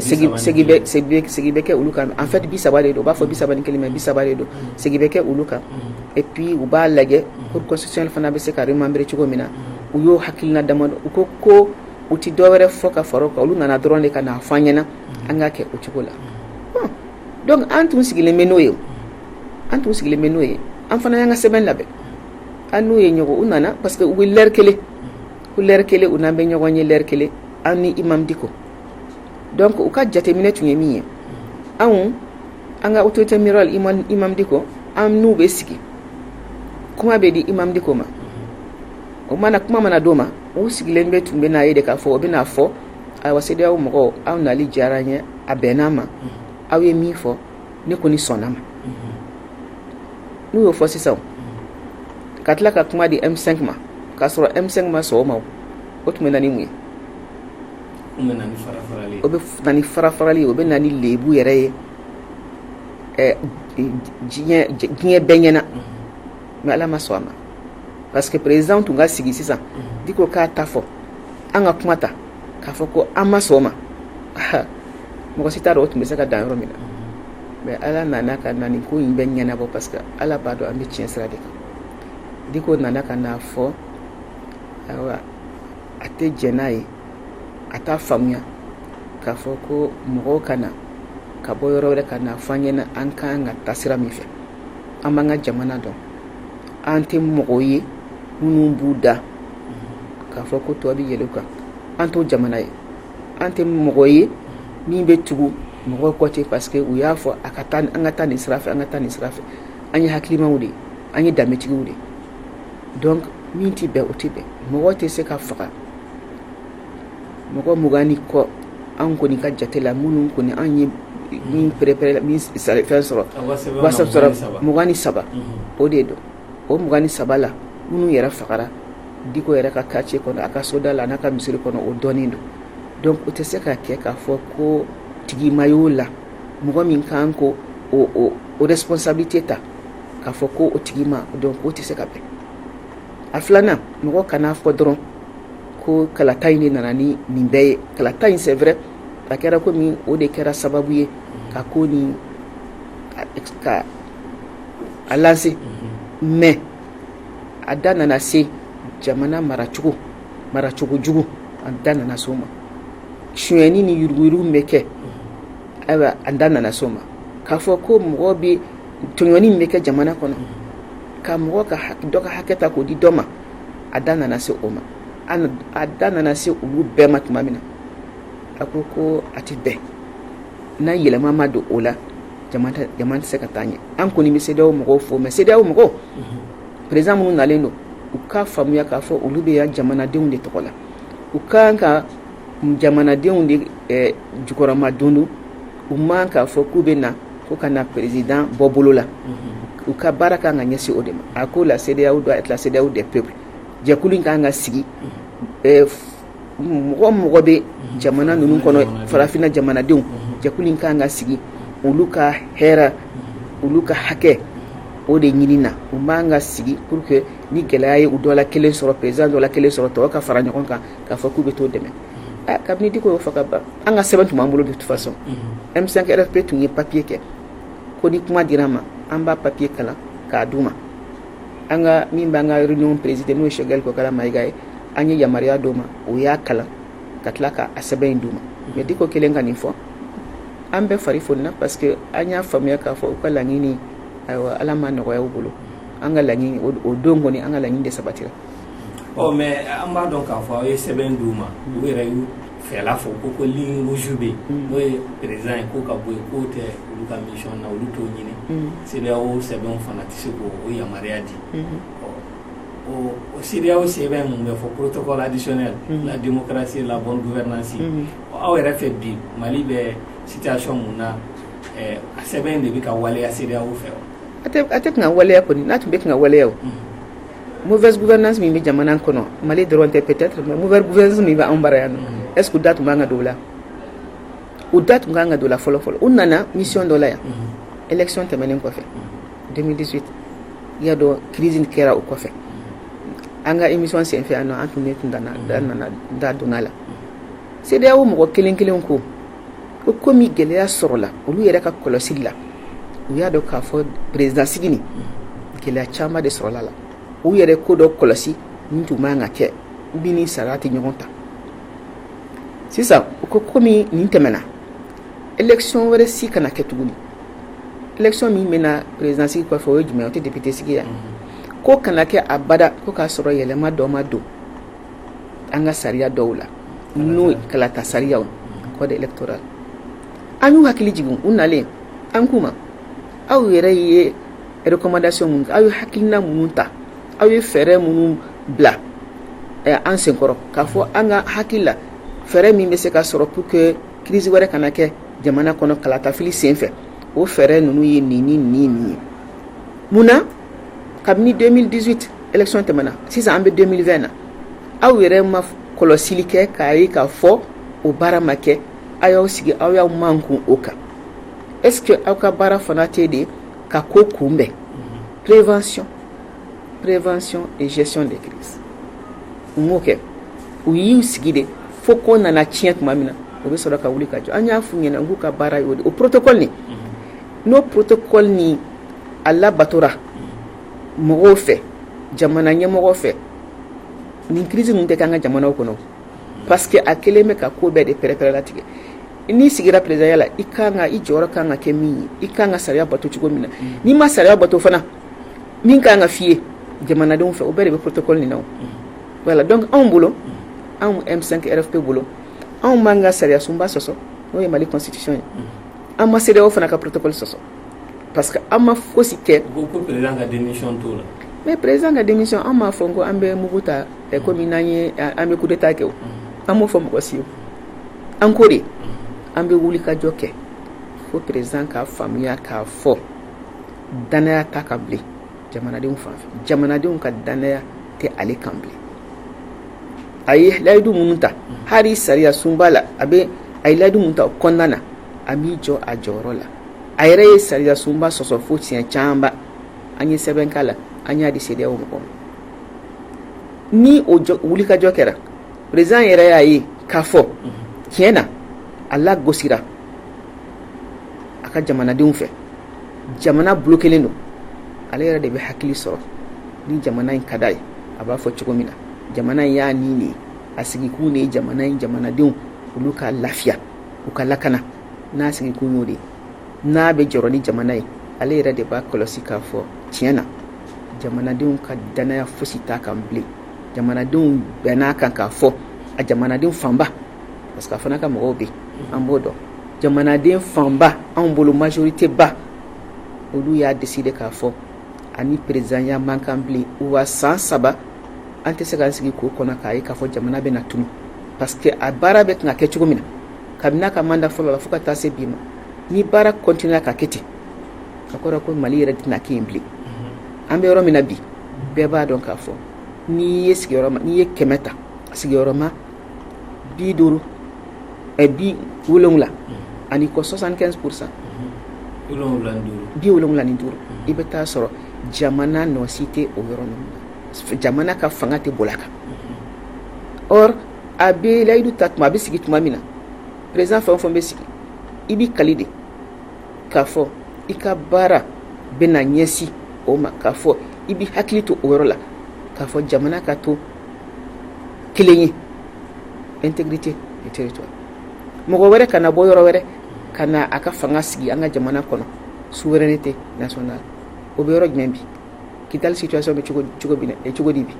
[SPEAKER 1] segi bɛ kɛ olu kan en fait 30 de don u b'a fɔ 31 mais 30 de don segi bɛ kɛ olu kan et puis u b'a lajɛ cour constitutionnelle fana bɛ se ka remembrer cogo min na u y'o hakilina damadɔ u ko ko u tɛ dɔ wɛrɛ fɔ ka fara o kan olu nana dɔrɔn de ka n'a fɔ an ɲɛna an ka kɛ o cogo la bon donc an tun sigilen bɛ n'o ye an tun sigilen bɛ n'o ye an fana y'an ka sɛbɛn labɛn an n'u ye ɲɔgɔn u nana parce que u bɛ l'heure kelen ko l'heure kelen u n'an bɛ ɲɔgɔn ye l'heure kelen an ni imam Diko donc u ka jateminɛ tun ye min ye anw an ka autorité morale imam diko an n'u bɛ sigi kuma bɛ di imam diko ma o mana kuma mana d'o ma u sigilen bɛ tun bɛ n'a ye de k'a fɔ o bɛna a fɔ ayiwa CEDEAO mɔgɔw aw nali diyara n ye a bɛnna ma aw ye min fɔ ne kɔni sɔnna ma n'u y'o fɔ sisan ka tila ka kuma di M5 ma k'a sɔrɔ M5 ma sɔn o ma o tun bɛ na ni mun ye o bɛ na ni farafarali ye o bɛ na ni lɛbu yɛrɛ ye diɲɛ bɛɛ ɲɛna mais ala ma sɔn a ma parce que président tun ka sigi sisan diko k'a ta fɔ an ka kuma ta k'a fɔ ko an ma sɔn o ma mɔgɔ si t'a dɔn o tun bɛ se ka dan yɔrɔ min na mais ala nana ka na nin ko in bɛɛ ɲɛnabɔ parce que ala b'a dɔn an bɛ tiɲɛ sira de kan diko nana ka n'a fɔ a tɛ jɛn n'a ye a t'a faamuya k'a fɔ ko mɔgɔw ka na ka bɔ yɔrɔ wɛrɛ ka n'a fɔ an ɲɛna an ka kan ka taa sira min fɛ an b'an ka jamana dɔn an tɛ mɔgɔw ye minnu b'u da k'a fɔ ko tɔw bɛ yɛlɛ u kan an t'o jamana ye an tɛ mɔgɔ ye min bɛ tugu mɔgɔ kɔ ten parce que u y'a fɔ a ka taa an ka taa nin sira fɛ an ka taa nin sira fɛ an ye hakilimaw de ye an ye danbetigiw de ye min tɛ bɛn o tɛ bɛn mɔgɔ tɛ se ka faga mɔgɔ mugan ni kɔ anw kɔni ka jate la minnu kɔni anw ye min pɛrɛ fɛn sɔrɔ mugan ni saba o de don o mugan ni saba la minnu yɛrɛ fagara diko yɛrɛ ka quartier kɔnɔ a ka soda la n'a ka misiri kɔnɔ o dɔnnen don donc o tɛ se ka kɛ k'a fɔ ko tigi ma y'o la mɔgɔ min kan k'o responsabilité ta k'a fɔ ko o tigi ma dɔn o tɛ se ka bɛn a filanan mɔgɔ kana a fɔ dɔrɔn ko kalata in de nana ni nin bɛɛ ye kalata in c'est vrai a kɛra komi o de kɛra sababu ye ka ko nin ka a lancer mais a da nana se jamana maracogo maracogo jugu a da nana se o ma sonyɛni ni yuruguyurugu min bɛ kɛ ayiwa a da nana se o ma k'a fɔ ko mɔgɔ bɛ tɔɲɔni min bɛ kɛ jamana kɔnɔ ka mɔgɔ ka dɔ ka hakɛ ta k'o di dɔ ma a da nana se o ma a da nana se olu bɛɛ ma tuma min na a ko ko a tɛ bɛn n'a yɛlɛma ma don o la jamana tɛ se ka taa ɲɛ an kɔni bɛ CEDEAO mɔgɔw fo mais CEDEAO mɔgɔw président minnu nalen don u k'a faamuya k'a fɔ olu bɛ yan jamanadenw de tɔgɔ la u ka kan ka jamanadenw de jukɔrɔmadondon u man k'a fɔ k'u bɛ na ko ka na président bɔ bolo la u ka baara ka kan ka ɲɛsin o de ma a ko la cedeao doit être la cedeao des peuples jɛkulu in ka kan ka sigi mɔgɔ o mɔgɔ bɛ jamana ninnu kɔnɔ farafinna jamanadenw jɛkulu in ka kan ka sigi olu ka hɛrɛ olu ka hakɛ o de ɲini na u man kan ka sigi pour que ni gɛlɛya ye u dɔ la kelen sɔrɔ président dɔ la kelen sɔrɔ tɔw ka fara ɲɔgɔn kan k'a fɔ k'u bɛ t'o dɛmɛ kabini diko y'o fɔ ka ban an ka sɛbɛn tun b'an bolo de toute façon m5 rfp tun ye papiye kɛ ko ni kuma dira an ma an b'a papiye kalan k'a d'u ma an ka min b'an ka réunion président n'o ye choguel kokala mayiga ye an ye yamaruya d'o ma o y'a kalan ka tila k'a sɛbɛn in d'u ma mais diko kɛlen ka nin fɔ an bɛɛ fari fonina parce que an y'a faamuya k'a fɔ u ka laɲini ayiwa ala ma nɔgɔya u bolo an ka laɲini o don kɔni an ka laɲini de sabatira ɔ
[SPEAKER 2] mais an b'a dɔn k'a fɔ aw ye sɛbɛn d'u ma u yɛrɛ y'u fɛla fɔ ko ko ligne rouge bɛ yen n'o ye président ye ko ka bɔ yen k'o tɛ olu ka mission na olu t'o ɲini cedeao sɛbɛn fana tɛ se k'o yamaruya di o cedeao sɛbɛn min bɛ fɔ protocole additionnel la démocratie la bonne gouvernance aw yɛrɛ fɛ bi mali bɛ situation min na a sɛbɛn de bɛ ka waleya cedeao fɛ wa a tɛ kan ka waleya kɔni
[SPEAKER 1] n'a tun bɛ kan ka waleya mufɛsbuguuɛnas min bɛ jamana kɔnɔ mali dɔrɔn tɛ ppte mufɛs min bɛ anw bara yan ɛs da tun b'an ka don la u da tun b'an ka don la fɔlɔfɔlɔ u nana misi dɔ la yan ec tɛmɛnen kɔfɛ denmisɛnninsi ya dɔn kiiridi kɛra o kɔfɛ an ka imi senfɛ yan an tun tun nana da donna la se o mɔgɔ kelen kelen ko ko komi gɛlɛya sɔrɔla olu yɛrɛ ka kɔlɔsi la u y'a dɔn k'a fɔ président sigi nin gɛlɛya caman de sɔrɔla la u yɛrɛ ko dɔ kɔlɔsi min tun man kan ka kɛ min ni sariya tɛ ɲɔgɔn ta sisan u ko komi nin tɛmɛna élection wɛrɛ si kana kɛ tuguni élection min bɛna président sigi kɔfɛ o ye jumɛn ye o tɛ député sigi ye k'o kana kɛ abada ko k'a sɔrɔ yɛlɛma dɔ ma don an ka sariya dɔw la n'o ye kalata sariya code électoral an y'u hakili jigin u nalen an k'u ma aw yɛrɛ ye recommandation minnu aw ye hakilina minnu ta aw ye fɛɛrɛ minnu bila an senkɔrɔ k'a fɔ an ka hakili la fɛɛrɛ min bɛ se ka sɔrɔ pour que crise wɛrɛ kana kɛ jamana kɔnɔ kalatafili senfɛ o fɛɛrɛ ninnu ye nin ni nin nin ye mun na kabini 2018 election tɛmɛna sisan an bɛ 2020 na aw yɛrɛ ma kɔlɔsili kɛ k'a ye k'a fɔ o baara ma kɛ aw y'aw sigi aw y'aw mankun o kan est ce que aw ka baara fana tɛ de ka ko kunbɛn prévention prévention et gestion des crises u m'o kɛ u y'u sigi de fo ko nana tiɲɛ tuma min na o bɛ sɔrɔ ka wuli ka jɔ an y'a f'u ɲɛna k'u ka baara y'o de o protocole nin n'o protocole nin a labatora mɔgɔw fɛ jamana ɲɛmɔgɔw fɛ nin crise ninnu tɛ k'an ka jamanaw kɔnɔ parce que a kɛlen bɛ ka ko bɛɛ de pɛrɛpɛrɛlatigɛ n'i sigira présidentya la i jɔyɔrɔ ka kan ka kɛ min ye i ka kan ka sariya bato cogo min na n'i ma sariya bato fana min ka kan ka f'i ye jamanadenw fɛ o bɛɛ de bɛ protocole nin na voilà donc anw bolo anw M5 RFP bolo anw m'an ka sariya sunba sɔsɔ n'o ye mali constitution ye An ma CEDEAO fana ka protocole sɔsɔ parce que an ma fosi kɛ, u ko président
[SPEAKER 2] ka démission t'o la, mais président ka démission
[SPEAKER 1] an m'a fɔ ko an bɛ mugu ta komi n'an ye an bɛ coup d'Etat kɛ, an m'o fɔ mɔgɔ si ye, an ko de an bɛ wulikajɔ kɛ fo président k'a faamuya k'a fɔ dannaya t'a kan bilen jamanadenw fan fɛ jamanadenw ka dannaya tɛ ale kan bilen a ye layidu minnu ta hali sariya sunba la a bɛ a ye layidu minnu ta kɔnɔna na a m'i jɔ a jɔyɔrɔ la a yɛrɛ ye sariya sunba sɔsɔ fo siɲɛ camanba an ye sɛbɛn k'a la an y'a di CEDEAO mɔgɔw ma ni o wulikajɔ kɛra président yɛrɛ y'a ye k'a fɔ tiɲɛ na a lagosira a ka jamanadenw fɛ jamana bloquélen don ale yɛrɛ de bɛ hakili sɔrɔ ni jamana in ka d'a ye a b'a fɔ cogo min na jamana in y'a ni de ye a sigikun de ye jamana in jamanadenw olu ka lafiya u ka lakana n'a sigikun y'o de ye n'a bɛ jɔrɔ ni jamana ye ale yɛrɛ de b'a kɔlɔsi k'a fɔ tiɲɛ na jamanadenw ka dannaya fosi t'a kan bilen jamanadenw bɛnn'a kan k'a fɔ a jamanadenw fanba parce que a fana ka mɔgɔw bɛ an b'o dɔn jamanaden fanba anw bolo majoritéba olu y'a décidé k'a fɔ a ni présidentya man kan bilen wa san saba an tɛ se k'an sigi k'o kɔnɔ k'a ye k'a fɔ jamana bɛ na tunun parce que a baara bɛ kan ka kɛ cogo min na kabini a ka mandat fɔlɔ la fo ka taa se bi ma ni baara continuer ka kɛ ten a kɔrɔ ko mali yɛrɛ tɛna kɛ yen bilen an bɛ yɔrɔ min na bi bɛɛ b'a dɔn k'a fɔ n'i ye sigiyɔrɔ n'i ye kɛmɛ ta sigiyɔrɔma bi duuru ɛ bi wolonwula ani kɔ soixante-quinze pour cent bi wolonwula ni duuru i bɛ t'a sɔrɔ jamana nɔ si tɛ o yɔrɔ ninnu na jamana ka fanga tɛ boli a kan or a bɛ layidu ta tuma a bɛ sigi tuma min na président fɛn o fɛn bɛ sigi i b'i kali de k'a fɔ i ka baara bɛna ɲɛsin o ma k'a fɔ i b'i hakili to o yɔrɔ la k'a fɔ jamana ka to kelen ye integrité du territoire mɔgɔ wɛrɛ kana bɔ yɔrɔ wɛrɛ ka na a ka fanga sigi an ka jamana kɔnɔ souveraineté nationale o bɛ yɔrɔ jumɛn bi kidal situation bɛ cogo cogo bi eh, cogo di bi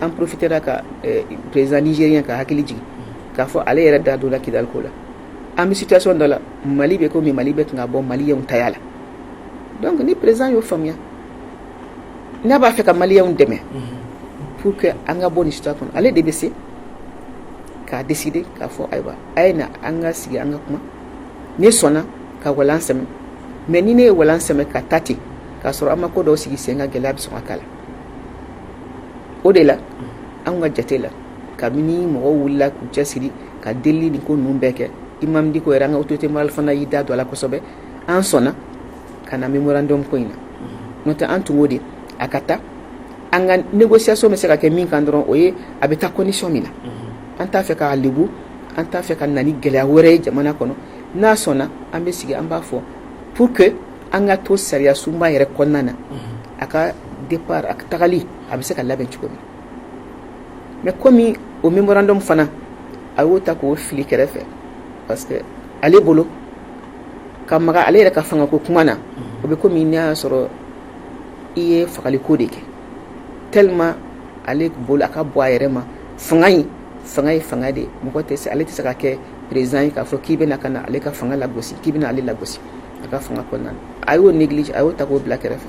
[SPEAKER 1] an profitera ka eh, président nigérien ka hakili jigin k'a fɔ ale yɛrɛ da donna kidal ko la an bɛ situation dɔ la mali bɛ komi mali bɛ kan ka bɔ maliyenw taya la donc ni président y'o faamuya n'a b'a fɛ ka maliyenw dɛmɛ pour que an ka bɔ nin situation kɔnɔ ale de bɛ se k'a décider k'a fɔ ayiwa a ye na an ka sigi an ka kuma ne sɔnna ka walan sɛmɛ mais ni ne ye walan sɛmɛ ka taa ten k'a sɔrɔ an ma ko dɔw sigi sen kan gɛlɛya bɛ sɔn ka k'a la o de la an ka jate la kabini mɔgɔw wulila k'u cɛ siri ka deli ni ko ninnu bɛɛ kɛ imam dicko yɛrɛ an ka autorité morale fana y'i da don a la kosɛbɛ an sɔnna ka na memorandum ko in na n'o tɛ an tun ko de a ka taa an ka négociation bɛ se ka kɛ min kan dɔrɔn o ye a bɛ taa condition min na an t'a fɛ k'a lebu an t'a fɛ ka na ni gɛlɛya wɛrɛ ye jamana kɔnɔ n'a sɔnna an bɛ sigi an b'a fɔ pour que an ka to sariyasunba yɛrɛ kɔnɔna na a ka départ a tagali a bɛ se ka labɛn cogo min mais komi o memorandum fana a y'o ta k'o fili kɛrɛfɛ parce que ale bolo ka maga ale yɛrɛ ka fanga ko kuma na o bɛ komi n'a y'a sɔrɔ i ye fagali ko de kɛ tellement ale bolo a ka bɔ a yɛrɛ ma fanga in fanga ye fanga de mɔgɔ tɛ se ale tɛ se ka kɛ président ye k'a fɔ k'i bɛna ka na ale ka fanga lagosi k'i bɛna ale lagosi a ka fanga kɔnɔna na a y'o négliger a y'o ta k'o bila kɛrɛfɛ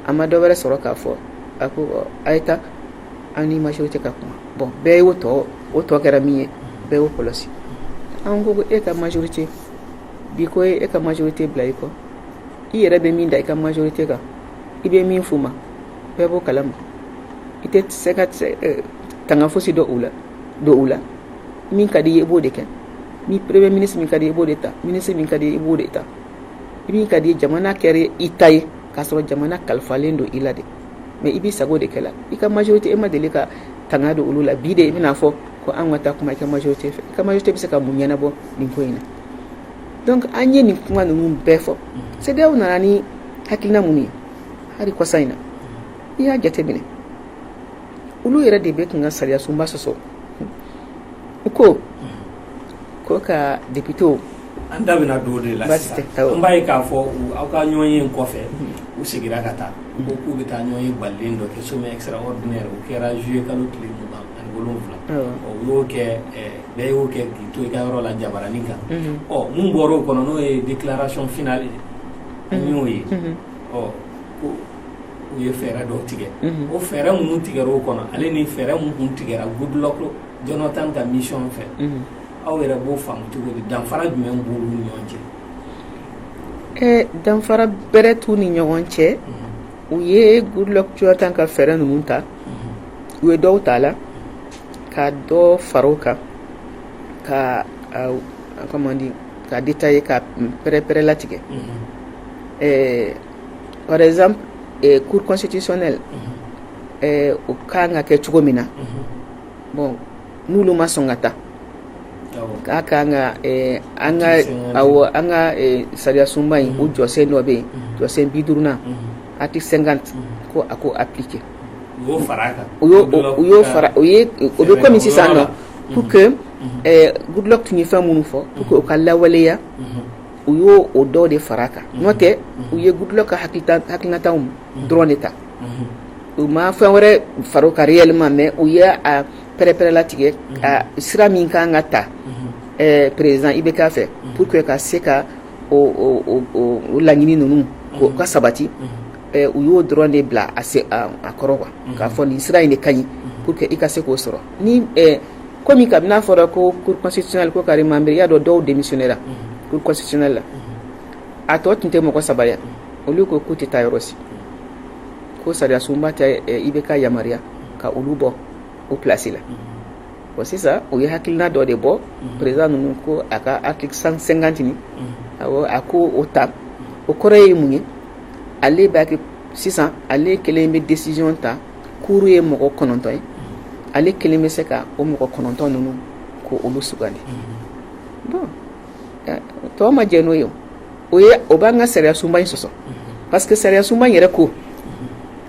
[SPEAKER 1] a ma dɔ wɛrɛ sɔrɔ k'a fɔ a ko a ye taa an ni majorité ka kuma bon bɛɛ y'o tɔ o tɔ kɛra min ye bɛɛ y'o kɔlɔsi an ko e ka majorité bi ko e ka majorité bila i kɔ i yɛrɛ bɛ min da i ka majorité kan i bɛ min f'u ma bɛɛ b'o kalama i tɛ se ka tanga fosi dɔ u la don u la min ka di i b'o de kɛ ni premier ministre min ka di i b'o de ta ministre min ka di i b'o de ta i min ka di jamana kɛra i ta ye k'a sɔrɔ jamana kalifalen don i la de mais i b'i sago de kɛ la i ka majorité e ma deli ka tanga don olu la bi de i bɛn'a fɔ ko an ka taa kuma i ka majorité fɛ i ka majorité bɛ se ka mun ɲɛnabɔ nin ko in na donc an ye nin kuma ninnu bɛɛ fɔ CEDEAO nana ni hakilina minnu ye hali kɔsa in na i y'a jateminɛ olu yɛrɛ de bɛ k'an ka sariya sunba sɔsɔ u ko ko ka députéw an da
[SPEAKER 2] bɛna don o de la an b'a ye k'a fɔ aw ka ɲɔgɔnye kɔfɛ u seginna ka taa ko k'u bɛ taa ɲɔgɔnye balalen dɔ kɛ sommet extraordinaire o kɛra juillet kalo tile mugan ni wolonwula u y'o kɛ bɛɛ y'o kɛ k'i to i ka yɔrɔ la jabaranin kan ɔ minnu bɔra o kɔnɔ n'o ye déclaration finale ye an y'o ye ɔ ko u ye fɛɛrɛ dɔw tigɛ o fɛɛrɛ minnu tigɛra o kɔnɔ ale ni fɛɛrɛ minnu tun tigɛra Goodluck Jonathan ka mission fɛ aw yɛrɛ b'o faamu cogo di danfara jumɛn b'u ni ɲɔgɔn cɛ ɛɛ
[SPEAKER 1] danfara bɛrɛ t'u ni ɲɔgɔn cɛ u ye Goodluck Jonathan ka fɛɛrɛ ninnu ta u ye dɔw t'a la ka dɔ fara o kan ka a comment dire ka détailler ka pɛrɛ-pɛrɛlatigɛ ɛɛ par exemple ɛɛ cour constitutionnelle ɛɛ o kan ka kɛ cogo min na bon n'olu ma sɔn ka taa k'a ka an ka an ka an ka sariya sunba in o jɔsen dɔ bɛ yen jɔsen bi duurunan article cinquante ko a k'o appliquer o bɛ kɔmi sisan nɔ pour que Goodluck tun ye fɛn minnu fɔ pour que o ka lawaleya u y'o o dɔ de fara a kan n'o tɛ u ye Goodluck ka ha hakilinataw dɔrɔn de ta u ma fɛn wɛrɛ fara a kan réellement mais u ye pɛrɛ-pɛrɛlatigɛ sira min ka kan ka ta président IBK fɛ pour que ka se ka o laɲini ninnu u ka sabati u y'o dɔrɔn de bila a kɔrɔ quoi k'a fɔ nin sira in de ka ɲi pour que i ka se k'o sɔrɔ ni kɔmi kabini a fɔra ko cour constitutionnelle ko k'a remembrer i y'a dɔn dɔw démissionnéra cour constitutionnelle la a tɔ tun tɛ mɔgɔ saba olu ko k'u tɛ taa yɔrɔ si ko sariya sunba tɛ IBK yamaruya ka olu bɔ u plasi la bon sisan u ye hakilina dɔ de bɔ président ninnu ko a ka article cinquante in a ko o ta o kɔrɔ ye mun ye ale b'a kɛ sisan ale kelen bɛ décision ta cour ye mɔgɔ kɔnɔntɔn ye ale kelen bɛ se ka o mɔgɔ kɔnɔntɔn ninnu ko olu sugandi bon tɔw ma jɛn n'o ye o o b'an ka sariya sunba in sɔsɔ parce que sariya sunba in yɛrɛ ko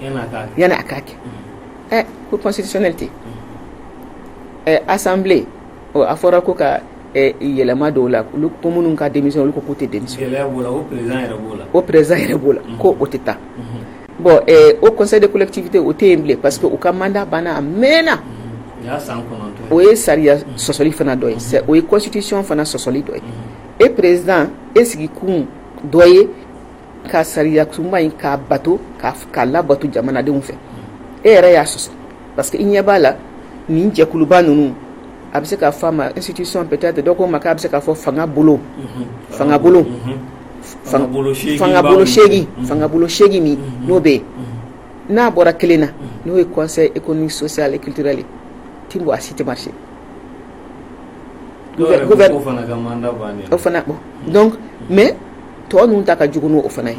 [SPEAKER 1] yan a ka kɛ ɛ ko pɔsi sɛmɛ ten ɛ asanbilen a fɔra ko ka yɛlɛma dɔw la olu ko minnu ka denmisɛn olu ko k'u tɛ denmuso o perez yɛrɛ b'o la ko o tɛ taa bɔn o kɔ de kotibite o tɛ yen bilen pa que u ka manda banna a mɛnna o ye sariya sɔsɔli fana dɔ ye o ye kɔsitisiɔn fana sɔsɔli dɔ ye e perez e sigi kun dɔ ye ka sariya sunba in k'a bato k'a labato jamanadenw fɛ e yɛrɛ y'a sɔsɔ parce que i ɲɛ b'a la nin jɛkuluba ninnu a bɛ se ka fɔ a ma institution peut-être dɔ ko ma k'a bɛ se ka fɔ fanga bolo fanga bolo seegin min n'o bɛ yen n'a bɔra kelen na n'o ye conseil économique social et culturel ye ti bɔ a si tɛ marché o fana bon donc mais tɔ ninnu ta ka jugu n'o fana ye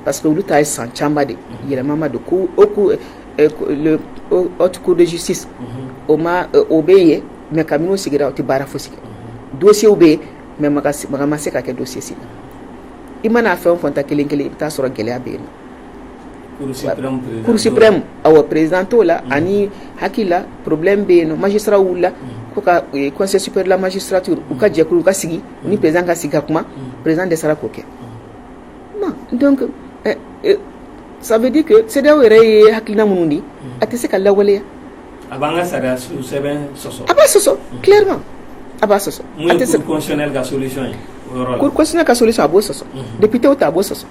[SPEAKER 1] parce que olu ta ye san caman de yɛlɛma ma don ko haute cour de justice o bɛ yen mais kabini o sigira o tɛ baara fosi kɛ dossier bɛ yen mais maga ma se ka kɛ dossier si la i mana fɛn o fɛn ta kelen kelen i bɛ taa a sɔrɔ gɛlɛya bɛ yen cour suprême awɔ président t'o la ani hakilila problème bɛ yen magistratw wulila ko ka conseil supérieur de la magistrature u ka jɛkulu ka sigi ni perez ka sigi ka kuma perez de sara k'o kɛ sabudi sedi yɛrɛ ye hakiliina minnu de a tɛ se ka lawaleya
[SPEAKER 2] a b'a sɔsɔ
[SPEAKER 1] a b'a
[SPEAKER 2] sɔsɔ ka so a b'o
[SPEAKER 1] sɔsɔ bipw ta a b'o sɔsɔ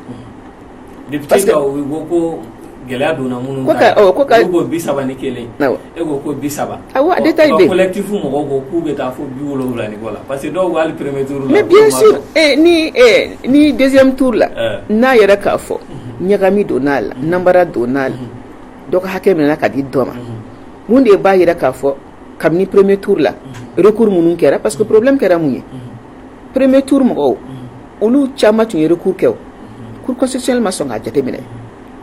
[SPEAKER 2] gɛlɛya donna minnu
[SPEAKER 1] ni dɛsɛ t la n'a yɛrɛ k'a fɔ ɲagagami don n'a la nara don n'a la dɔgɔ hakɛ min ka di dɔ ma minnu de b'a jira k'a fɔ kabini porommɛ t la kuru minnu kɛra pa que porobi kɛra mun ye premier tour mɔgɔw olu caman tun ye recours kɛ cour constitutionnelle ma sɔn k'a jateminɛ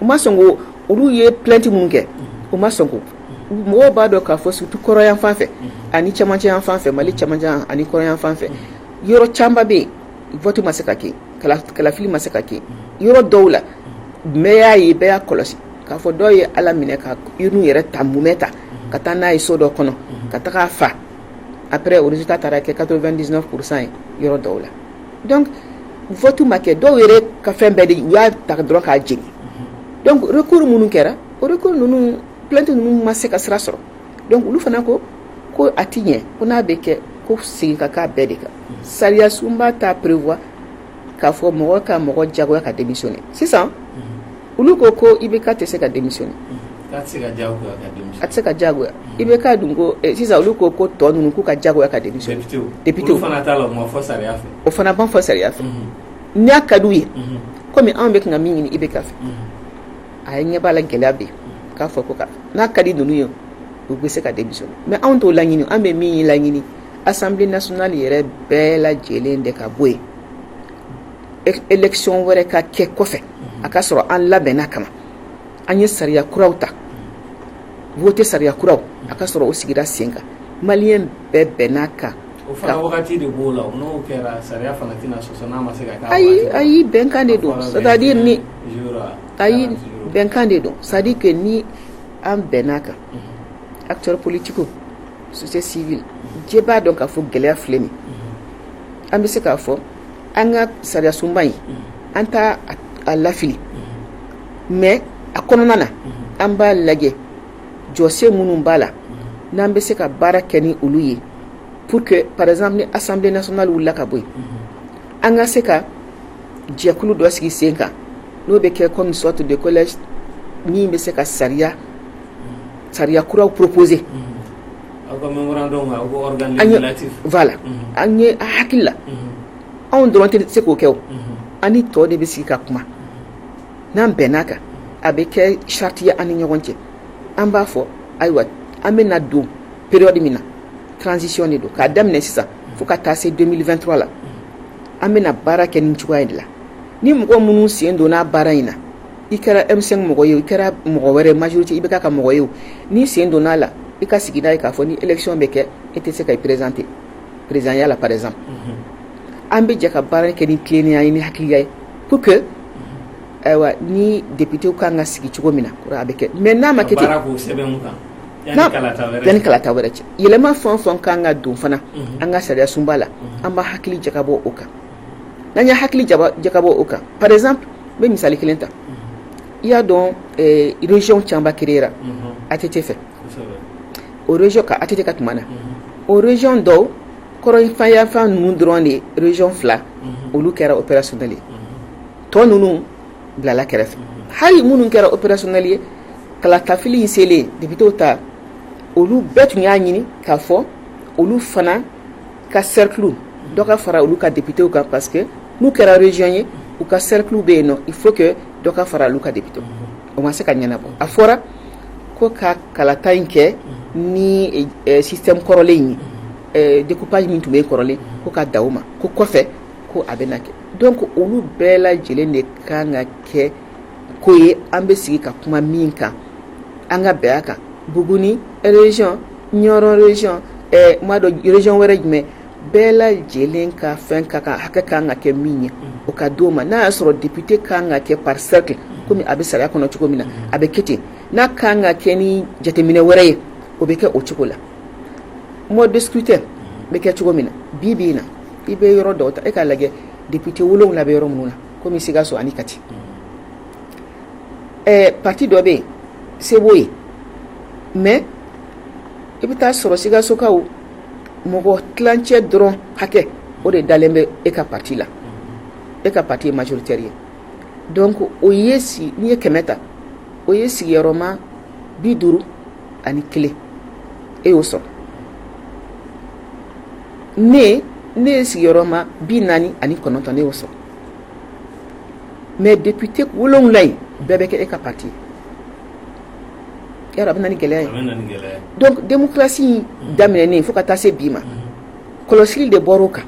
[SPEAKER 1] u ma sɔn ko olu ye plainte minnu kɛ u ma sɔn ko mɔgɔw b'a dɔn k'a fɔ surtout kɔrɔnyanfan fɛ ani camancɛyanfan fɛ mali camancɛ ani kɔrɔnyanfan fɛ yɔrɔ caman bɛ yen vote ma se ka kɛ kalafili ma se ka kɛ yɔrɔ dɔw la bɛɛ y'a ye bɛɛ y'a kɔlɔsi k'a fɔ dɔw ye ala minɛ ka urne yɛrɛ ta mumɛ ta ka taa n'a ye so dɔ kɔnɔ ka taga a fa après résultat taara kɛ 99 pourcent ye yɔrɔ dɔw la donc vote ma kɛ dɔw yɛrɛ ka fɛn bɛɛ de u y'a ta dɔrɔn k'a jeni donc recours minnu kɛra o recours ninnu plainte ninnu ma se ka sira sɔrɔ donc olu fana ko ko a ti ɲɛ ko n'a bɛ kɛ ko segin ka k'a bɛɛ de kan sariya sunba t'a prévoir k'a fɔ mɔgɔ ka mɔgɔ jagoya ka démissionner sisan olu ko ko IBK tɛ se ka démissionner a tɛ se ka jagoya IBK dun ko eh, sisan olu ko ko tɔ ninnu k'u ka jagoya ka démissionner o fana ban fɔ sariya fɛ n'a ka d'u ye kɔmi anw bɛ ka min ɲini IBK fɛ a ye ɲɛ b'a la gɛlɛya bɛ k'a fɔ ko n'a ka di ninnu ye u bɛ se ka démissionner mais anw t'o laɲini an bɛ min laɲini assemblée nationale yɛrɛ bɛɛ lajɛlen de ka bɔ yen élection wɛrɛ ka kɛ kɔfɛ a ka sɔrɔ an labɛnna kama an ye sariya kuraw ta voter sariya kuraw a ka sɔrɔ o sigira sen kan maliyɛn bɛɛ bɛnn'a
[SPEAKER 2] kan ayi ayi bɛnkan
[SPEAKER 1] de don c'est-à-dire ni ayi bɛnkan de don c'est-à-dire que ni an bɛnn'a kan acteurs politiques jɛ b'a dɔn k'a fɔ gɛlɛya filɛ nin ye, an bɛ se k'a fɔ an ka sariya sunba in an t'a lafili mais a kɔnɔna na an b'a lajɛ jɔsen minnu b'a la n'an bɛ se ka baara kɛ ni olu ye pour que par exemple ni assemblée nationale wulila ka bɔ yen an ka se ka jɛkulu dɔ sigi sen kan n'o bɛ kɛ comme une sorte de collège min bɛ se ka sariya sariya kuraw proposer an ye a hakili la anw dɔrɔn tɛ se k'o kɛ an ni tɔw de bɛ sigi ka kuma n'an bɛnn'a kan a bɛ kɛ charte ye an ni ɲɔgɔn cɛ an b'a fɔ ayiwa an bɛna don période min na transition de don k'a daminɛ sisan fo ka taa se deux mille vingt-trois la an bɛna baara kɛ nin cogoya de la ni mɔgɔ minnu sen donna baara in na i kɛra M5 mɔgɔ ye i kɛra mɔgɔ wɛrɛ majorité IBK ka mɔgɔ ye n'i sen donn'a la i ka sigi n'a ye k'a fɔ ni élection bɛ kɛ e tɛ se ka i présenter présidentielle la par exemple an bɛ jɛ ka baara kɛ ni tilennenya ye ni hakiliya ye pour que ayiwa ni députéw ka kan ka sigi cogo min na a bɛ kɛ mais n'a ma kɛ yanni kalata wɛrɛ cɛ yɛlɛma fɛn o fɛn ka kan ka don fana an ka sariya sunba la an bɛ hakili jakabɔ o kan n'an ye hakili jakabɔ o kan par exemple n bɛ misali kelen ta i y'a dɔn région caba créera ATT fɛ o région ka ATT ka tuma na o région dɔw kɔrɔnfɛyanfan ninnu dɔrɔn de région fila olu kɛra opérationnel ye tɔ ninnu bilala kɛrɛfɛ hali minnu kɛra opérationnel ye kalatafili selen député ta olu bɛɛ tun y'a ɲini k'a fɔ olu fana ka cercle dɔ ka fara olu ka députés kan parce que n'u kɛra région ye u ka cercle bɛ yen nɔ il faut que dɔ ka fara olu ka députés o ma se ka ɲɛnabɔ a fɔra ko ka kalata in kɛ ni eh, système kɔrɔlen in ye eh, découpage min tun bɛ kɔrɔlen ko ka da o ma ko kɔfɛ ko a bɛna kɛ donc olu bɛɛ lajɛlen de kan ka kɛ ko ye an bɛ sigi ka kuma min kan an ka bɛn a kan Buguni région Nioro région ɛ n m'a dɔn région wɛrɛ jumɛn bɛɛ lajɛlen ka fɛn ka kan hakɛ ka kan ka kɛ min ye o ka di o ma n'a y'a sɔrɔ député ka kan ka kɛ par cercle komi a bɛ sariya kɔnɔ cogo min na a bɛ kɛ ten n'a ka kan ka kɛ ni jateminɛ wɛrɛ ye o bɛ kɛ o cogo la mode de scrutin bɛ kɛ cogo min na bi bi in na i bɛ yɔrɔ dɔw ta e k'a lajɛ député wolonwula bɛ yɔrɔ minnu na komi Sikaso ani Kati ɛɛ parti dɔ bɛ yen se b'o ye mais i bɛ taa sɔrɔ Sikasokaw mɔgɔ tilancɛ dɔrɔn hakɛ o de dalen bɛ e ka parti la e ka parti ye majoritaire ye donc o ye si n'i ye kɛmɛ ta o ye sigiyɔrɔma bi duuru ani kelen e y'o sɔrɔ ne ne ye sigiyɔrɔma bi naani ani kɔnɔntɔn ne y'o sɔrɔ mais député wolonwula in bɛɛ bɛ kɛ e ka parti ye a bɛ na ni gɛlɛya ye donc démocratie in daminɛnen fo ka taa se bi ma kɔlɔsili de bɔra o kan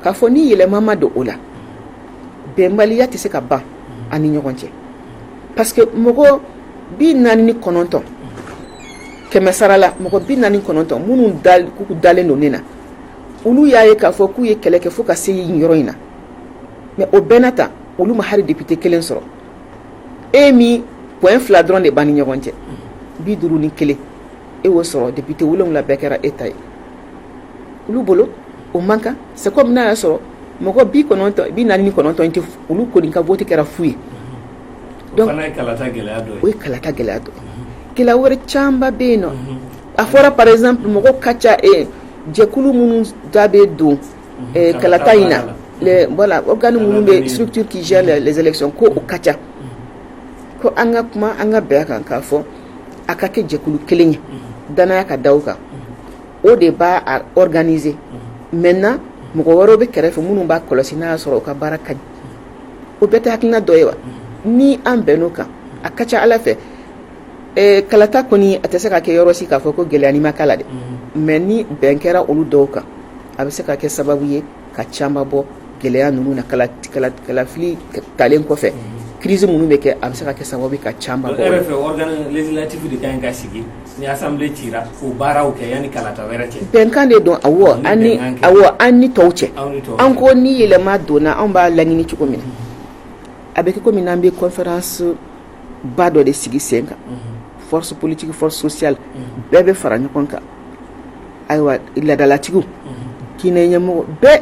[SPEAKER 1] k'a fɔ ni yɛlɛma ma don o la bɛnbaliya tɛ se ka ban an ni ɲɔgɔn cɛ parce que mɔgɔ bi naani ni kɔnɔntɔn kɛmɛsarala mɔgɔ bi naani ni kɔnɔntɔn minnu dalen don ne na olu y'a ye k'a fɔ k'u ye kɛlɛ kɛ fo ka se nin yɔrɔ in na mais o bɛɛ na ta olu ma hari député kelen sɔrɔ e min point fila dɔrɔn de b'an ni ɲɔgɔn cɛ bi duuru ni kelen e y'o sɔrɔ député wolonwula bɛɛ kɛra e ta ye olu bolo o man kan c'est comme n'a y'a sɔrɔ mɔgɔ bi kɔnɔntɔn bi naani ni kɔnɔntɔn in tɛ olu kɔni ka vote kɛra fu ye donc o ye kalata gɛlɛya dɔ ye gɛlɛya wɛrɛ camanba bɛ yen nɔ a fɔra par exemple mɔgɔ ka ca e jɛkulu minnu da bɛ don kalata in na voilà organes minnu bɛ structure qui gère les élections ko o ka ca ko an ka kuma an ka bɛn a kan k'a fɔ a ka kɛ jɛkulu kelen ye danaya ka da o kan o de b'a organiser maintenant mɔgɔ wɛrɛw bɛ kɛrɛfɛ minnu b'a kɔlɔsi n'a y'a sɔrɔ o ka baara ka ɲi o bɛɛ tɛ hakilina dɔ ye wa ni an bɛnn'o kan a ka ca a la fɛ kalata kɔni a tɛ se ka kɛ yɔrɔ si k'a fɔ ko gɛlɛyani ma k'a la dɛ mais ni bɛn kɛra olu dɔw kan a bɛ se ka kɛ sababu ye ka caman bɔ gɛlɛya ninnu na kalafili talen kɔfɛ crise minnu bɛ kɛ a bɛ se ka kɛ sababu ye ka
[SPEAKER 2] caman bɔ bɛnkan de
[SPEAKER 1] don awɔ an ni tɔw cɛ an ko ni yɛlɛma donna an b'a laɲini cogo min na a bɛ kɛ kɔmi n'an bɛ conférence ba dɔ de sigi sen kan force politique force sociale bɛɛ bɛ fara ɲɔgɔn kan ayiwa ladalatigiw diinɛ ɲɛmɔgɔ bɛɛ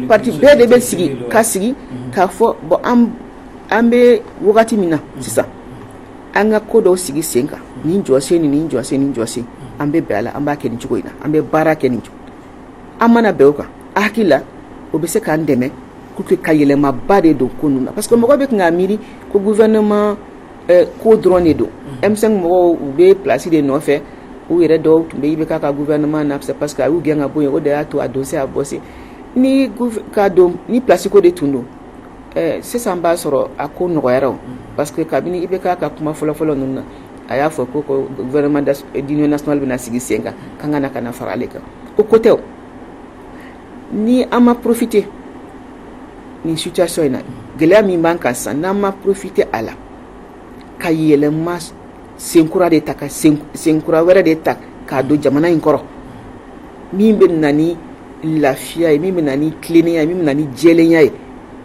[SPEAKER 1] parti bɛɛ de bɛ sigi ka sigi k'a fɔ bon an bɛ wagati min na sisan an ka ko dɔw sigi sen kan nin jɔsen nin jɔsen nin jɔsen an bɛ bɛn a la an b'a kɛ nin cogo in na an bɛ baara kɛ nin cogo an mana bɛn o kan a hakili la o bɛ se k'an dɛmɛ pour que ka yɛlɛmaba de don ko ninnu na parce que mɔgɔ bɛ tun k'a miiri ko gouvernement eh, ko dɔrɔn de don M5 mm. mɔgɔw u bɛ place de nɔfɛ u yɛrɛ dɔw tun bɛ IBK ka gouvernement na c'est parce que a y'u gɛn ka bɔ yen o de y'a to a don se a bɔ se ni place ko de tun don eh, sisan b'a sɔrɔ a ko nɔgɔyara o mm. parce que kabini IBK ka kuma fɔlɔfɔlɔ ninnu na a y'a fɔ ko gouvernement d'union nationale bɛna sigi sen kan k'an ka na ka na fara ale kan o ko tɛ o ni an ma profiter nin situation in na gɛlɛya min b'an kan sisan n'an ma profiter a la ka yɛlɛma senkura de ta ka senkura wɛrɛ de ta k'a don jamana in kɔrɔ min bɛ na ni lafiya ye min bɛ na ni tilennenya ye min bɛ na ni jɛlenya ye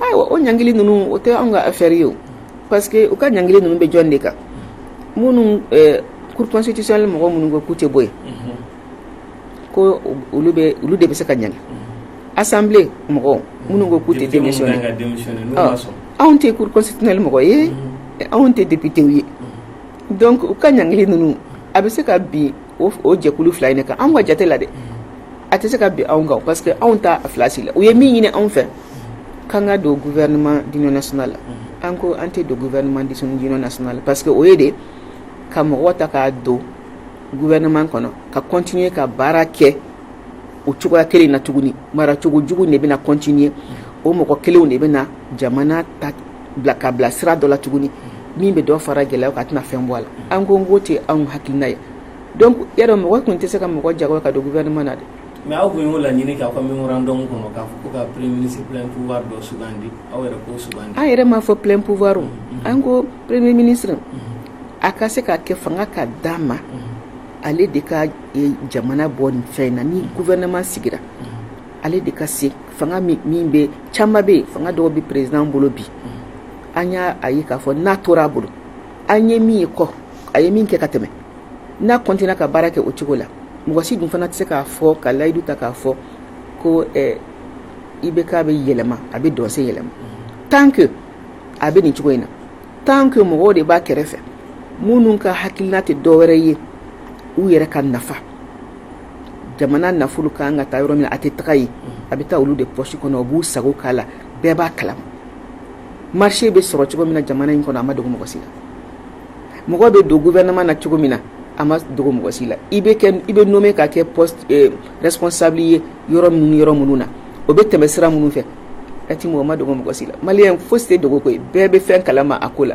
[SPEAKER 1] ayiwa o ɲangili ninnu o tɛ anw ka affaire ye o parce que u ka ɲangili ninnu bɛ jɔn de kan minnu eh, cour constitutionnelle mɔgɔ minnu ko k'u tɛ bɔ yen ko olu bɛ olu de bɛ se ka ɲangi assemblée mɔgɔw minnu ko k'u tɛ Député minnu démissionner kan ka démissionner n'u ma sɔn anw tɛ cour constitutionnelle mɔgɔ ye anw tɛ député ye donc u ka ɲangili ninnu a bɛ se ka bin o jɛkulu fila in de kan anw ka jate la dɛ a tɛ se ka bin anw kan parce que anw t'a filasi la u ye min ɲini anw fɛ k'an ka don gouvernement d'union nationale la an ko an tɛ don gouvernement d'union nationale la parce que o ye de ka mɔgɔ ta k'a don gouvernement kɔnɔ ka continuer ka baara kɛ o cogoya kelen na tuguni maracogo jugu de bɛna continuer o mɔgɔ kelenw de bɛna jamana ta ka bila sira dɔ la tuguni min bɛ dɔ fara gɛlɛya kan a tɛna fɛn bɔ a la an ko n k'o tɛ anw hakilina ye donc ya dɔ mɔgɔ tun tɛ se ka mɔgɔ jagoya ka don gouvernement na dɛ mais aw tun y'o
[SPEAKER 2] laɲini k'aw ka mémorandum kɔnɔ k'a fɔ ka plein pouvoir dɔ sugandi aw an yɛrɛ m'a fɔ plein pouvoir o an ko premier ministre a ka se ka kɛ fanga ka d'a ma ale de ka jamana bɔ nin fɛn in na ni gouvernement sigira ale de ka se fanga min bɛ caman bɛ yen fanga dɔw bɛ président bolo bi an y'a a ye k'a fɔ n'a tor'a bolo an ye min ye kɔ a ye min kɛ ka tɛmɛ n'a continue ka baara kɛ o cogo la mɔgɔ si dun fana tɛ se k'a fɔ ka layidu ta k'a fɔ ko IBK bɛ yɛlɛma a bɛ don si yɛlɛma tant que a bɛ nin cogo in na tant que mɔgɔw de b'a kɛrɛfɛ minnu ka hakilina tɛ dɔ wɛrɛ ye u yɛrɛ ka nafa jamana nafolo ka kan ka taa yɔrɔ min na a tɛ taga yen a bɛ taa olu de poche kɔnɔ u b'u sago k'a la bɛɛ b'a kalama marché bɛ sɔrɔ cogo min na jamana in kɔnɔ a ma dogo mɔgɔ si la mɔgɔ bɛ don gouvernement na cogo min na a ma dogo mɔgɔ si la i bɛ nommé ka kɛ poste responsable ye yɔrɔ minnu yɔrɔ minnu na o bɛ tɛmɛ sira minnu fɛ a tɛ mɔgɔ ma dogo mɔgɔ si la maliyɛn fosi tɛ dogo koyi bɛɛ bɛ fɛn kalama a ko la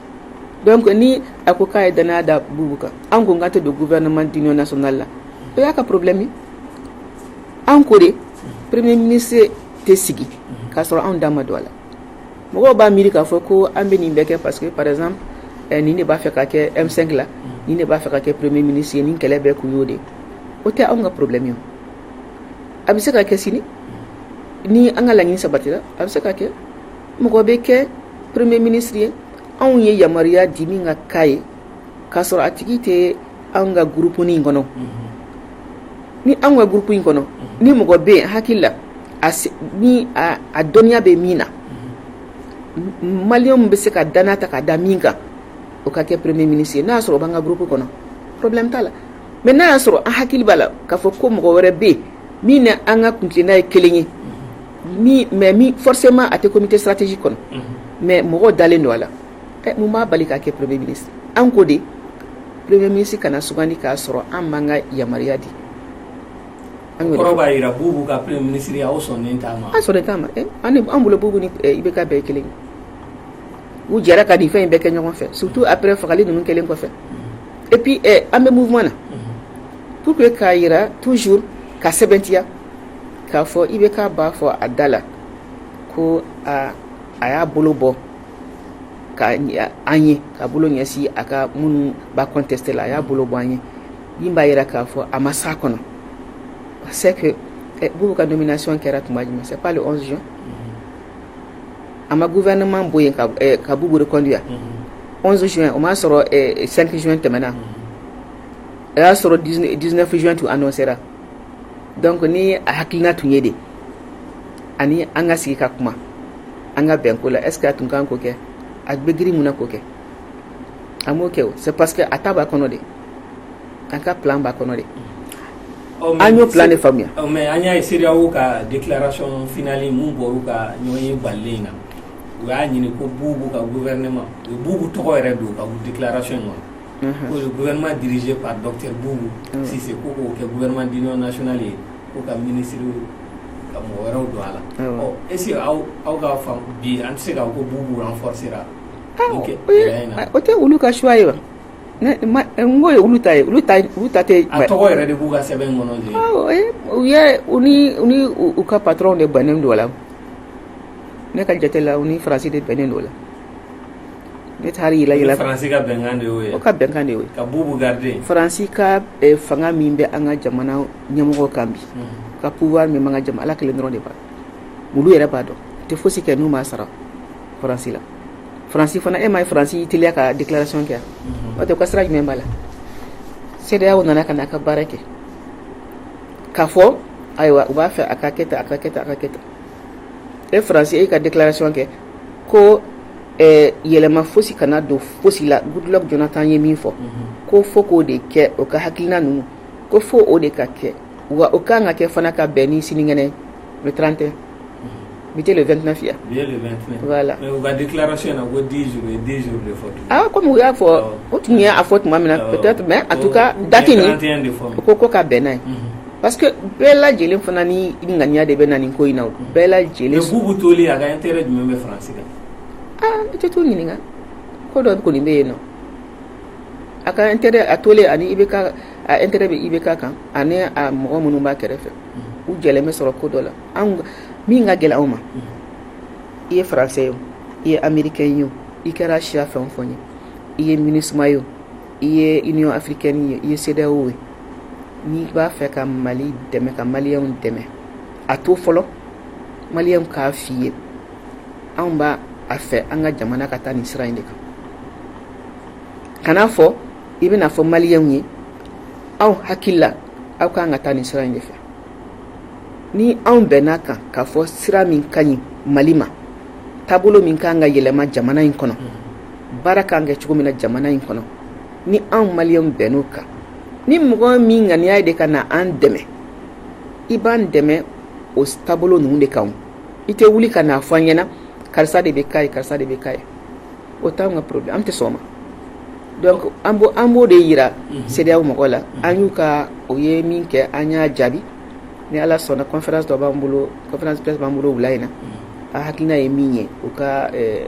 [SPEAKER 1] donc ni a ko k'a ye danaya da bubu kan an ko k'an tɛ don gouvernement d'union nationale la o y'a ka problème ye an ko de premier ministre tɛ sigi k'a sɔrɔ anw da ma don a la mɔgɔw b'a miiri k'a fɔ ko an bɛ nin bɛɛ kɛ parce que par exemple eh, nin de b'a fɛ ka kɛ M5 la nin de b'a fɛ ka kɛ premier ministre ye nin kɛlɛ bɛɛ kun y'o de ye o tɛ anw ka problème ye o a bɛ se ka kɛ sini ni an ka laɲini sabatira a bɛ se ka kɛ mɔgɔ bɛ kɛ premier ministre ye anw ye yamaruya di min ka k'a ye k'a sɔrɔ a tigi tɛ anw ka groupe in kɔnɔ ni anw ka groupe in kɔnɔ ni mɔgɔ bɛ yen hakilila ni a dɔnniya bɛ min na maliyɛnw bɛ se ka danaya ta ka da min kan o ka kɛ premier ministre ye n'a y'a sɔrɔ o b'an ka groupe kɔnɔ problème t'a la mais n'a y'a sɔrɔ an hakili b'a la k'a fɔ ko mɔgɔ wɛrɛ bɛ yen min ni an ka kuntilenna ye kelen ye Ni mɛ min fɔsen ma a tɛ ko tɛ saratisi kɔnɔ mɛ mɔgɔ dalen don a la n b'a bali k'a kɛ poro bɛ mini an ko de poro bɛ minisi kana na s k' sɔrɔ an man ka yamaruya di an
[SPEAKER 2] b'a jira k'u ka minisiri aw sɔn
[SPEAKER 1] an bolo b i bɛ ka bɛɛ kelen u jɛra ka di fɛn in bɛɛ kɛ ɲɔgɔn fɛ sutu apre fagali ninnu kelen kɔfɛ ep an bɛ mun na p k'a jira tuuzo ka sɛbɛntiya k'a fɔ IBK b'a fɔ a da la ko a a y'a bolo bɔ ka an ye ka bolo ɲɛsin a ka minnu b'a contester la a y'a bolo bɔ an ye min b'a yira k'a fɔ a ma s'a kɔnɔ c'est que eh, bubu ka nomination kɛra tuma jumɛn c'est pas le 11 juin a ma gouvernement bɔ yen ka eh, ka bubu reconduire 11 juin o m'a sɔrɔ 5 eh, juin tɛmɛna o y'a sɔrɔ 19 juin tun annoncera donc ni a hakilina tun ye de ani an ka sigi ka kuma an ka bɛn ko la est ce que a tun kan k'o kɛ a bɛ girin mun na k'o kɛ a m'o kɛ c'est parce que a ta b'a kɔnɔ de an ka plan b'a kɔnɔ de an y'o plan de faamuya mais an y'a ye
[SPEAKER 2] CEDEAO ka déclaration finale min bɔr'u ka ɲɔgɔnye bannen na u y'a ɲini ko Boubou ka gouvernement u Boubou tɔgɔ yɛrɛ don u ka déclaration in ma gouvernement dirigé par Docteur Boubou Cissé ko k'o kɛ gouvernement d'union nationale ye ko ka ministre ka mɔgɔ wɛrɛw don a la, awɔ, ɔ est ce que aw ka faamu bi an tɛ se k'a fɔ ko Boubou renforcer ra nin gɛlɛya
[SPEAKER 1] in na, o tɛ olu ka choix ye wa, n k'o ye olu ta ye, olu ta tɛ, a tɔgɔ yɛrɛ de b'u
[SPEAKER 2] ka sɛbɛn in kɔnɔ, awɔ, u ye u ni u ni
[SPEAKER 1] u ka patron de bɛnnen don a la, ne ka jate la u ni France de bɛnnen don a la Ne ta yeli la faransi ka bɛnkan
[SPEAKER 2] de y'o ye o ka bɛnkan de
[SPEAKER 1] ye ka Boubou garder
[SPEAKER 2] faransi
[SPEAKER 1] ka fanga min bɛ an ka jamana ɲɛmɔgɔ kan bi ka pouvoir min b'an ka jamana ala kelen dɔrɔn de ban olu yɛrɛ b'a dɔn u tɛ fosi kɛ n'u m'a sara faransi la faransi fana i m'a ye faransi y'i teliya ka déclaration kɛ o tɛ ka sira jumɛn b'a la CEDEAO nana ka n'a ka baara kɛ k'a fɔ ayiwa u b'a fɛ a ka kɛ tan e faransi e ka déclaration kɛ ko yɛlɛma fosi kana don fosi la Goodluck Jonathan ye min fɔ ko fo k'o de kɛ o ka hakilina ninnu ko fo o de ka kɛ wa o ka kan ka kɛ fana ka bɛn ni sinikɛnɛ ye le trente et un bi tɛ le vingt neuf ye wa voilà
[SPEAKER 2] awɔ comme u y'a fɔ
[SPEAKER 1] o tun y'a fɔ tuma min na peut-être mais en tout cas date in ko ko ka bɛn n'a ye parce que bɛɛ lajɛlen fana ni ŋaniya de bɛ na nin ko in na bɛɛ lajɛlen Boubou toli a
[SPEAKER 2] ka intérêt jumɛn bɛ France la aa
[SPEAKER 1] i tɛ t'u ɲininka ko dɔ kɔni bɛ yen nɔ a ka intérêt a toli ani IBK a intérêt bɛ IBK kan ani a mɔgɔ minnu b'a kɛrɛfɛ u jɛlen bɛ sɔrɔ ko dɔ la anw min ka gɛlɛn anw ma i ye français ye o i ye américain ye o i kɛra siya fɛn o fɛn ye i ye MINUSMA ye o i ye union africaine ye i ye CEDEAO ye n'i b'a fɛ ka Mali dɛmɛ ka maliyɛnw dɛmɛ a to fɔlɔ maliyɛnw k'a f'i ye anw b'a fɛ an ka jamana ka taa nin sira in de kan kan'a fɔ i bɛna fɔ maliyɛnw ye anw hakili la aw ka kan ka taa nin sira in de fɛ ni anw bɛnna a kan k'a fɔ sira min ka ɲi mali ma taabolo min ka kan ka yɛlɛma jamana in kɔnɔ baara kan kɛ cogo min na jamana in kɔnɔ ni anw maliens bɛnn'o kan ni mɔgɔ min ŋaniya ye de ka na an dɛmɛ i b'an dɛmɛ o taabolo ninnu de kan i tɛ wuli ka n'a fɔ an ɲɛna karisa de bɛ ka ye karisa de bɛ ka ye o t'an ka problème an tɛ sɔn o ma donc an b'o an b'o de yira mhm. CEDEAO mɔgɔw la mhm. an y'u ka o ye min kɛ an y'a jaabi ni ala sɔnna conférence dɔ b'an bolo conférence presse b'an bolo wula in na mhm. a hakilina ye mun ye u ka eh,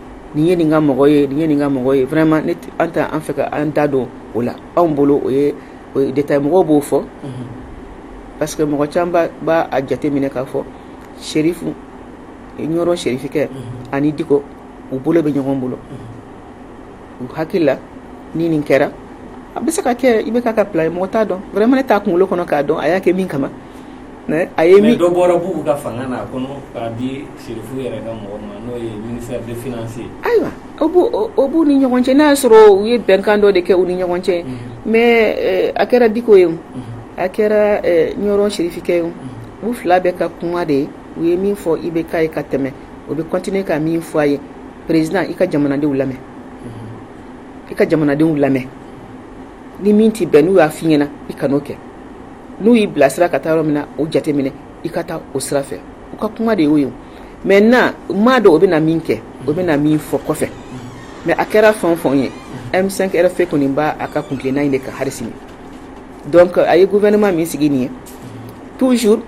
[SPEAKER 1] nin ye nin ka mɔgɔ ye nin ye nin ka mɔgɔ ye vraiment an t'a fɛ ka an da don o la anw bolo o ye détail mɔgɔw b'o fɔ parce que mɔgɔ caman b'a jate minɛ k'a fɔ serifu ɲɔrɔn serifikɛ ani diko u bolo bɛ ɲɔgɔn bolo u hakili la ni nin kɛra a bɛ se ka kɛ IBK ka plan ye mɔgɔ t'a dɔn vraiment ne t'a kunkolo kɔnɔ k'a dɔn a y'a kɛ min kama mais
[SPEAKER 2] dɔ bɔra bubu ka fanga na kɔni k'a di serifu yɛrɛ ka mɔgɔ ma n'o ye ministère des finances
[SPEAKER 1] ayiwa o b'u ni ɲɔgɔn cɛ n'a y'a sɔrɔ u ye bɛnkan dɔ de kɛ u ni ɲɔgɔn cɛ mais a kɛra diko ye a kɛra ɲɔrɔn serifikɛ ye u fila bɛɛ ka kuma de ye u ye min fɔ IBK ye ka tɛmɛ o bɛ continuer ka min fɔ a ye président i ka jamanadenw lamɛn i ka jamanadenw lamɛn ni min tɛ bɛn n'u y'a fɔ i ɲɛna i kan'o kɛ n'u y'i bilasira ka taa yɔrɔ min na o jate minɛ i ka taa o sira fɛ u ka kuma de y'o ye maintenant an m'a dɔn o bɛna na min kɛ o bɛna na min fɔ kɔfɛ mais a kɛra fɛn o fɛn ye M5 RFP kɔni b'a a ka kuntilenna in de kan hali sini donc a ye gouvernement min sigi nin ye toujours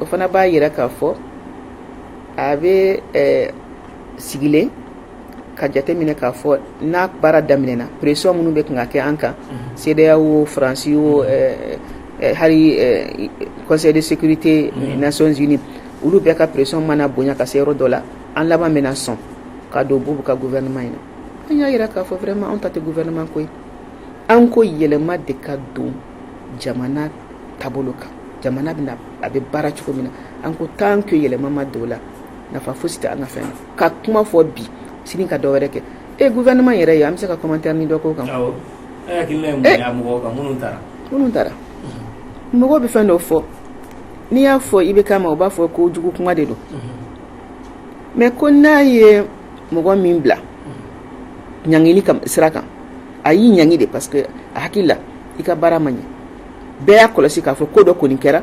[SPEAKER 1] o fana b'a yira k'a fɔ a bɛ sigilen ka jate minɛ k'a fɔ n'a baara daminɛ na pression minnu bɛ kan ka kɛ an kan CEDEAO wo France wo hali conseil de sécurité nations unies olu bɛɛ ka pression mana bonya ka se yɔrɔ dɔ la an laban bɛna sɔn ka don bubu ka gouvernement in na an y'a yira k'a fɔ vraiment anw ta tɛ gouvernement ko ye an ko yɛlɛma de ka don jamana taabolo kan jamana bɛna a bɛ baara cogo min na an ko tant que yɛlɛma ma don o la nafa fosi tɛ an ka fɛn na ka kuma fɔ bi sini ka dɔ wɛrɛ kɛ e eh, gouvernement yɛrɛ ye an bɛ se ka commentaire ni dɔ k'o kan awɔ e eh,
[SPEAKER 2] hakilina ye mun ye eh. a mɔgɔw kan minnu taara minnu taara mɔgɔw bɛ fɛn dɔ fɔ n'i y'a fɔ IBK ma u b'a fɔ ko jugu kuma de don mais ko n'a ye mɔgɔ min bila ɲangili sira kan a y'i ɲangi de parce que a hakili la i ka baara ma ɲɛ bɛɛ y'a kɔlɔsi k'a fɔ ko dɔ kɔni kɛra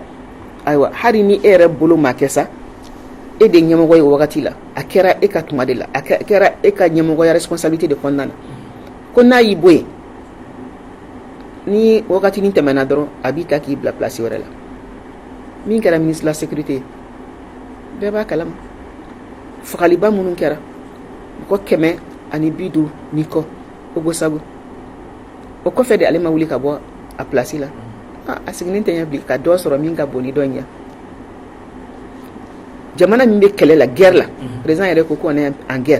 [SPEAKER 2] ayiwa hali ni e yɛrɛ bolo ma kɛ sa e de ɲɛmɔgɔ ye wagati la a kɛra e ka tuma de la a kɛra e ka ɲɛmɔgɔya responsabilité de kɔnɔna na ko n'a y'i bɔ yen ni wagatinin tɛmɛna dɔrɔn a b'i ta k'i bila place wɛrɛ la min kɛra ministre de la sécurité ye bɛɛ b'a kalama fagaliba minnu kɛra mɔgɔ kɛmɛ ani bi duuru ni kɔ Ogosagu o kɔfɛ de ale ma wuli ka bɔ a place la a sigilen tɛ ɲɛ bilen ka dɔ sɔrɔ min ka bon ni dɔ in ye jamana min bɛ kɛlɛ la g la rez yɛrɛ ko ko an g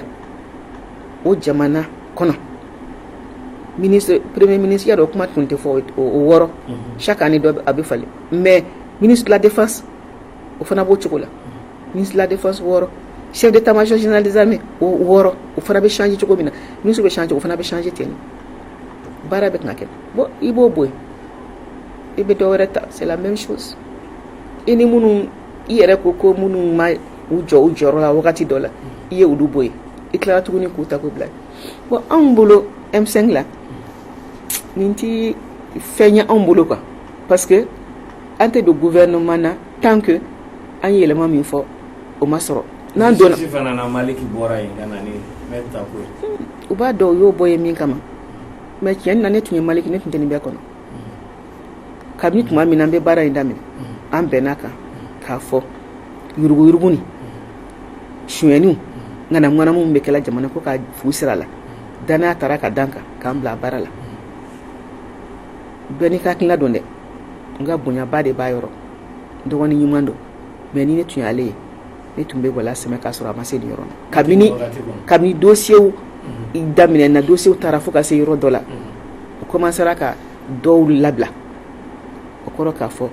[SPEAKER 2] o jamana kɔnɔ peree minisiya dɔ o kuma tun tɛ fɔ o wɔɔrɔ sa ka ni dɔ a bɛ falen mɛ minisila defa o fana b'o cogo la minisila defa wɔɔrɔ sɛ de taama sɔsinalizdme o wɔɔrɔ o fana bɛ sse cogo min na mini bɛ sse o fana bɛ sse ten baara bɛ tɛna kɛ bɔn i b'o bɔ yen i bɛ dɔw wɛrɛ ta se mɛ misi i ni minnu i yɛrɛ ko ko minnu ma u jɔ u jɔyɔrɔ la wagati dɔ la i ye olu bɔ yen i tilara tuguni k'u ta k'u bila bon anw bolo M5 la nin tɛ fɛn ye anw bolo quoi parce que an tɛ don gouvernement na tant que an ye yɛlɛma min fɔ o ma sɔrɔ n'an donna Justice fana na Maliki bɔra yen ka na ni maître Tapo ye u b'a dɔn u
[SPEAKER 1] y'o bɔ yen min kama mais tiɲɛ na ne tun ye Maliki ne tun tɛ nin bɛɛ kɔnɔ. kabini tuma min na an bɛ baara in daminɛ an bɛnna a kan k'a fɔ yuruguyurugu ni sonyaniw ŋanamuŋanamu min bɛ kɛla jamana ko ka fu siri a la danaya tara k'a da an kan k'an bila baara la bɛɛ n'i ka hakilina don dɛ n ka bonyaba de b'a yɔrɔ dɔgɔnin ɲuman don mais ni ne tun y'ale ye ne tun bɛ wala sɛmɛ k'a sɔrɔ a ma se nin yɔrɔ la kabini kabini dossiers daminɛna dossiers taara fo ka se yɔrɔ dɔ la u commencera ka dɔw labila o kɔrɔ k'a fɔ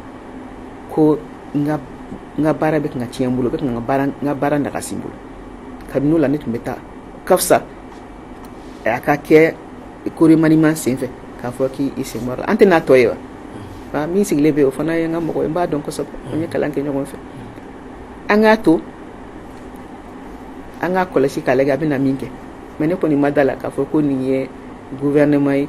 [SPEAKER 1] ko n ka baara bɛ kan ka tiɲɛ n bolo bɛ kan ka n ka baara nagasi n bolo kabini o la ne tun bɛ taa ka fisa a ka kɛ ko remaniement senfɛ k'a fɔ k'i sen bɔra an tɛ n'a tɔ ye wa min sigilen bɛ o fana ye n ka mɔgɔ ye n b'a dɔn kosɛbɛ an ye kalan kɛ ɲɔgɔn fɛ an k'a to an k'a kɔlɔsi k'a lajɛ a bɛna min kɛ mais ne kɔni ma da la k'a fɔ ko nin ye gouvernement ye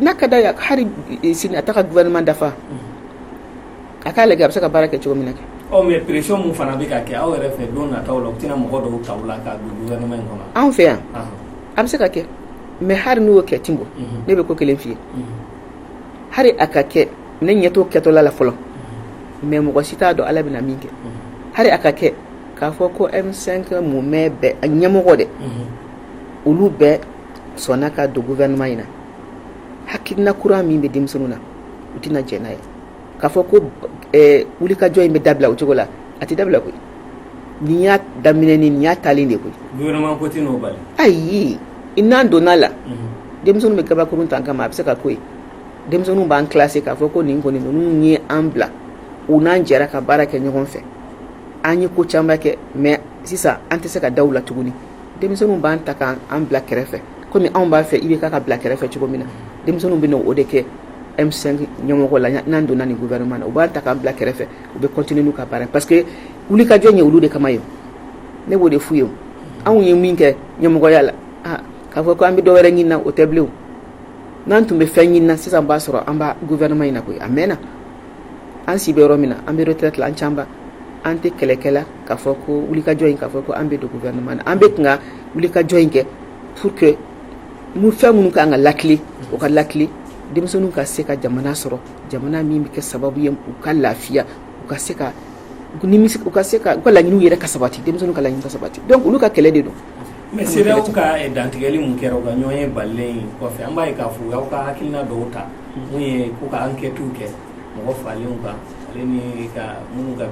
[SPEAKER 1] n'a ka d'a ye hali sini a t'a ka gouvernement dafa a k'a lajɛ a bɛ se ka baara kɛ cogo min na kɛ mais pression min fana
[SPEAKER 2] bɛ ka kɛ aw yɛrɛ fɛ don nataw la u tɛna mɔgɔ dɔw ta aw la ka don gouvernement
[SPEAKER 1] in kɔnɔ anw fɛ yan a bɛ se ka kɛ mais hali n'o kɛ Timbo ne bɛ ko kelen f'i ye hali a ka kɛ ne ɲɛ t'o kɛtɔla la fɔlɔ mais mɔgɔ si t'a dɔn ala bɛna min kɛ hali a ka kɛ k'a fɔ ko M5 mumɛ bɛɛ ɲɛmɔgɔ dɛ olu bɛɛ sɔnna ka don gouvernement in na hakilina kura min bɛ denmisɛnninw na u tɛna jɛn n'a ye k'a fɔ ko wulikajɔ in bɛ dabila o cogo la a tɛ dabila koyi nin y'a daminɛ ni nin y'a taalen de ye koyi gouvernement ko tɛ n'o
[SPEAKER 2] bali
[SPEAKER 1] ayi n'an donna la denmisɛnninw bɛ gabakurun ta an kama a bɛ se ka ko ye denmisɛnninw b'an classé k'a fɔ ko nin kɔni ninnu ye an bila u n'an jɛra ka baara kɛ ɲɔgɔn fɛ an ye ko caman kɛ mais sisan an tɛ se ka da u la tuguni denmisɛnninw b'an ta k' an bila kɛrɛfɛ kɔmi anw b'a fɛ IBK ka bila kɛrɛfɛ cogo min na denmisɛnninw bɛ o de kɛ M5 ɲɛmɔgɔ la n'an donna nin gouvernement na u b'an ta k'an bila kɛrɛfɛ u bɛ continuer n'u ka baara parce que wulikajɔ ye olu de kama ye ne b'o de f'u ye anw ye min kɛ ɲɛmɔgɔya la k'a fɔ ko an bɛ dɔ wɛrɛ ɲini na o tɛ bilen n'an tun bɛ fɛn ɲini na sisan b'a sɔrɔ an bɛ gouvernement in na koyi a mɛnna an si bɛ yɔrɔ min na an bɛ retraite la an ca an tɛ kɛlɛkɛla k'a fɔ ko wulikajɔ in k'a fɔ ko an bɛ don gouvernement na an bɛ kun ka wulikajɔ in kɛ pour que mu fɛn minnu ka kan ka lakile o ka lakile denmisɛnninw ka se ka jamana sɔrɔ jamana min bɛ kɛ sababu ye u ka lafiya u ka se ka nimisi u ka se ka u ka laɲiniw yɛrɛ ka sabati denmisɛnninw ka laɲini ka sabati donc olu ka kɛlɛ de don mais CEDEAO
[SPEAKER 2] ka dantigɛli mun kɛra u ka ɲɔgɔn ye bannen kɔfɛ an b'a ye k'a fɔ u y'aw ka hakilina dɔw ta mun ye ko ka enquêtes kɛ mɔgɔ falenw kan ale ni ka minnu ka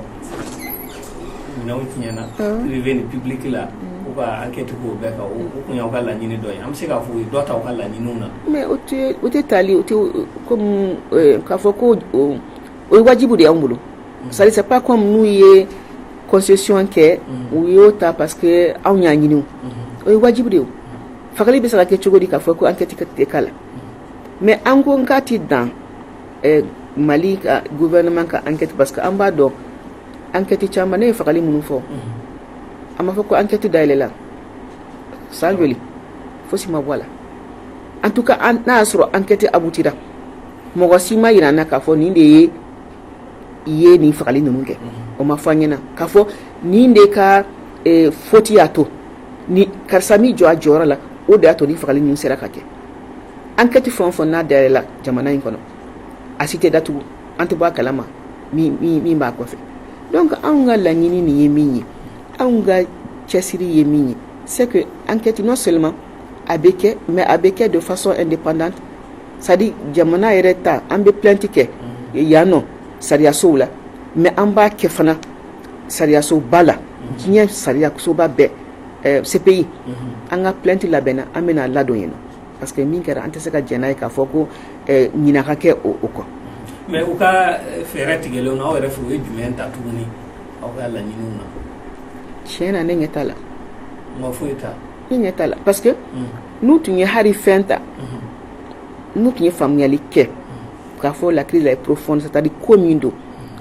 [SPEAKER 2] minɛnw tiɲɛna privé ni public la u ka enquête k'o bɛɛ kan o tun y'aw ka laɲini dɔ ye an bɛ se k'a fɔ u ye dɔ ta ka laɲiniw na mais o tɛ
[SPEAKER 1] taali o kɔmi k'a fɔ ko o ye wajibi de y'an bolo c'est pas kɔmi n'u ye concession kɛ u y'o ta parce que anw y'a ɲini o ye wajibi de ye fagali bɛ se ka kɛ cogo di k'a fɔ ko enquête tɛ k'a la mais an ko nk'a tɛ dan mali ka gouvernement ka enquête parce que an b'a dɔn enquête caman ne ye fagali minnu fɔ a b'a fɔ ko enquête dayɛlɛla san joli fosi ma bɔ a la en tout cas n'a y'a sɔrɔ enquête aboutira mɔgɔ si ma yira an na k'a fɔ nin de ye i ye nin fagali ninnu kɛ o ma fɔ an ɲɛna k'a fɔ nin de ka faute y'a to ni karisa ma jɔ a jɔyɔrɔ la o de y'a to ni fagali ninnu sera ka kɛ enquête fɛn o fɛn n'a dayɛlɛla jamana in kɔnɔ a si tɛ datugu an tɛ bɔ a kalama min b'a kɔfɛ donc anw ka laɲini nin ye min ye anw ka cɛsiri ye min ye c'est que enquête non seulement a bɛ kɛ mais a bɛ kɛ de façon indépendante c'est-à-dire jamana yɛrɛ ta an bɛ plainte kɛ yan nɔ sariyasow la mais an b'a kɛ fana sariyasoba la diɲɛ sariyasoba bɛɛ CPI an ka plainte labɛnna an bɛna a ladon yen na parce que min kɛra an tɛ se ka jɛn n'a ye k'a fɔ ko ɲinan ka kɛ o kɔ mais u ka
[SPEAKER 2] fɛɛrɛ tigɛlenw na aw yɛrɛ fɛ u ye jumɛn ta tuguni aw ka laɲiniw na tiɲɛ na
[SPEAKER 1] ne ɲɛ t'a la
[SPEAKER 2] ma foyi ta ne ɲɛ t'a la
[SPEAKER 1] parce que n'u tun ye hari fɛn ta n'u tun ye faamuyali kɛ k'a fɔ la crise là est profonde c'est-à-dire ko min don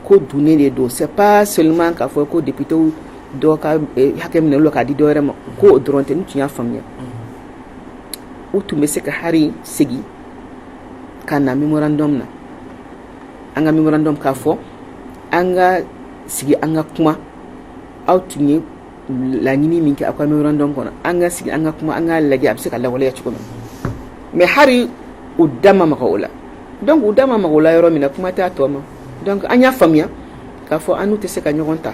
[SPEAKER 1] ko dunnen de don c'est pas seulement k'a fɔ ko député dɔw ka eh, hakɛ minɛ u la k'a di dɔ wɛrɛ ma ko o dɔrɔn tɛ n'u tun y'a faamuya u tun bɛ se ka hari segin ka na memorandum na an ka memorandum k'a fɔ an ka sigi an ka kuma aw tun ye laɲini min kɛ aw ka memorandum kɔnɔ an ka sigi an ka kuma an k'a lajɛ a bɛ se ka lawaleya cogo min mais hari u da ma maga o la donc u da ma maga o la yɔrɔ min na kuma t'a tɔ ma donc an y'a faamuya k'a fɔ an n'u tɛ se ka ɲɔgɔn ta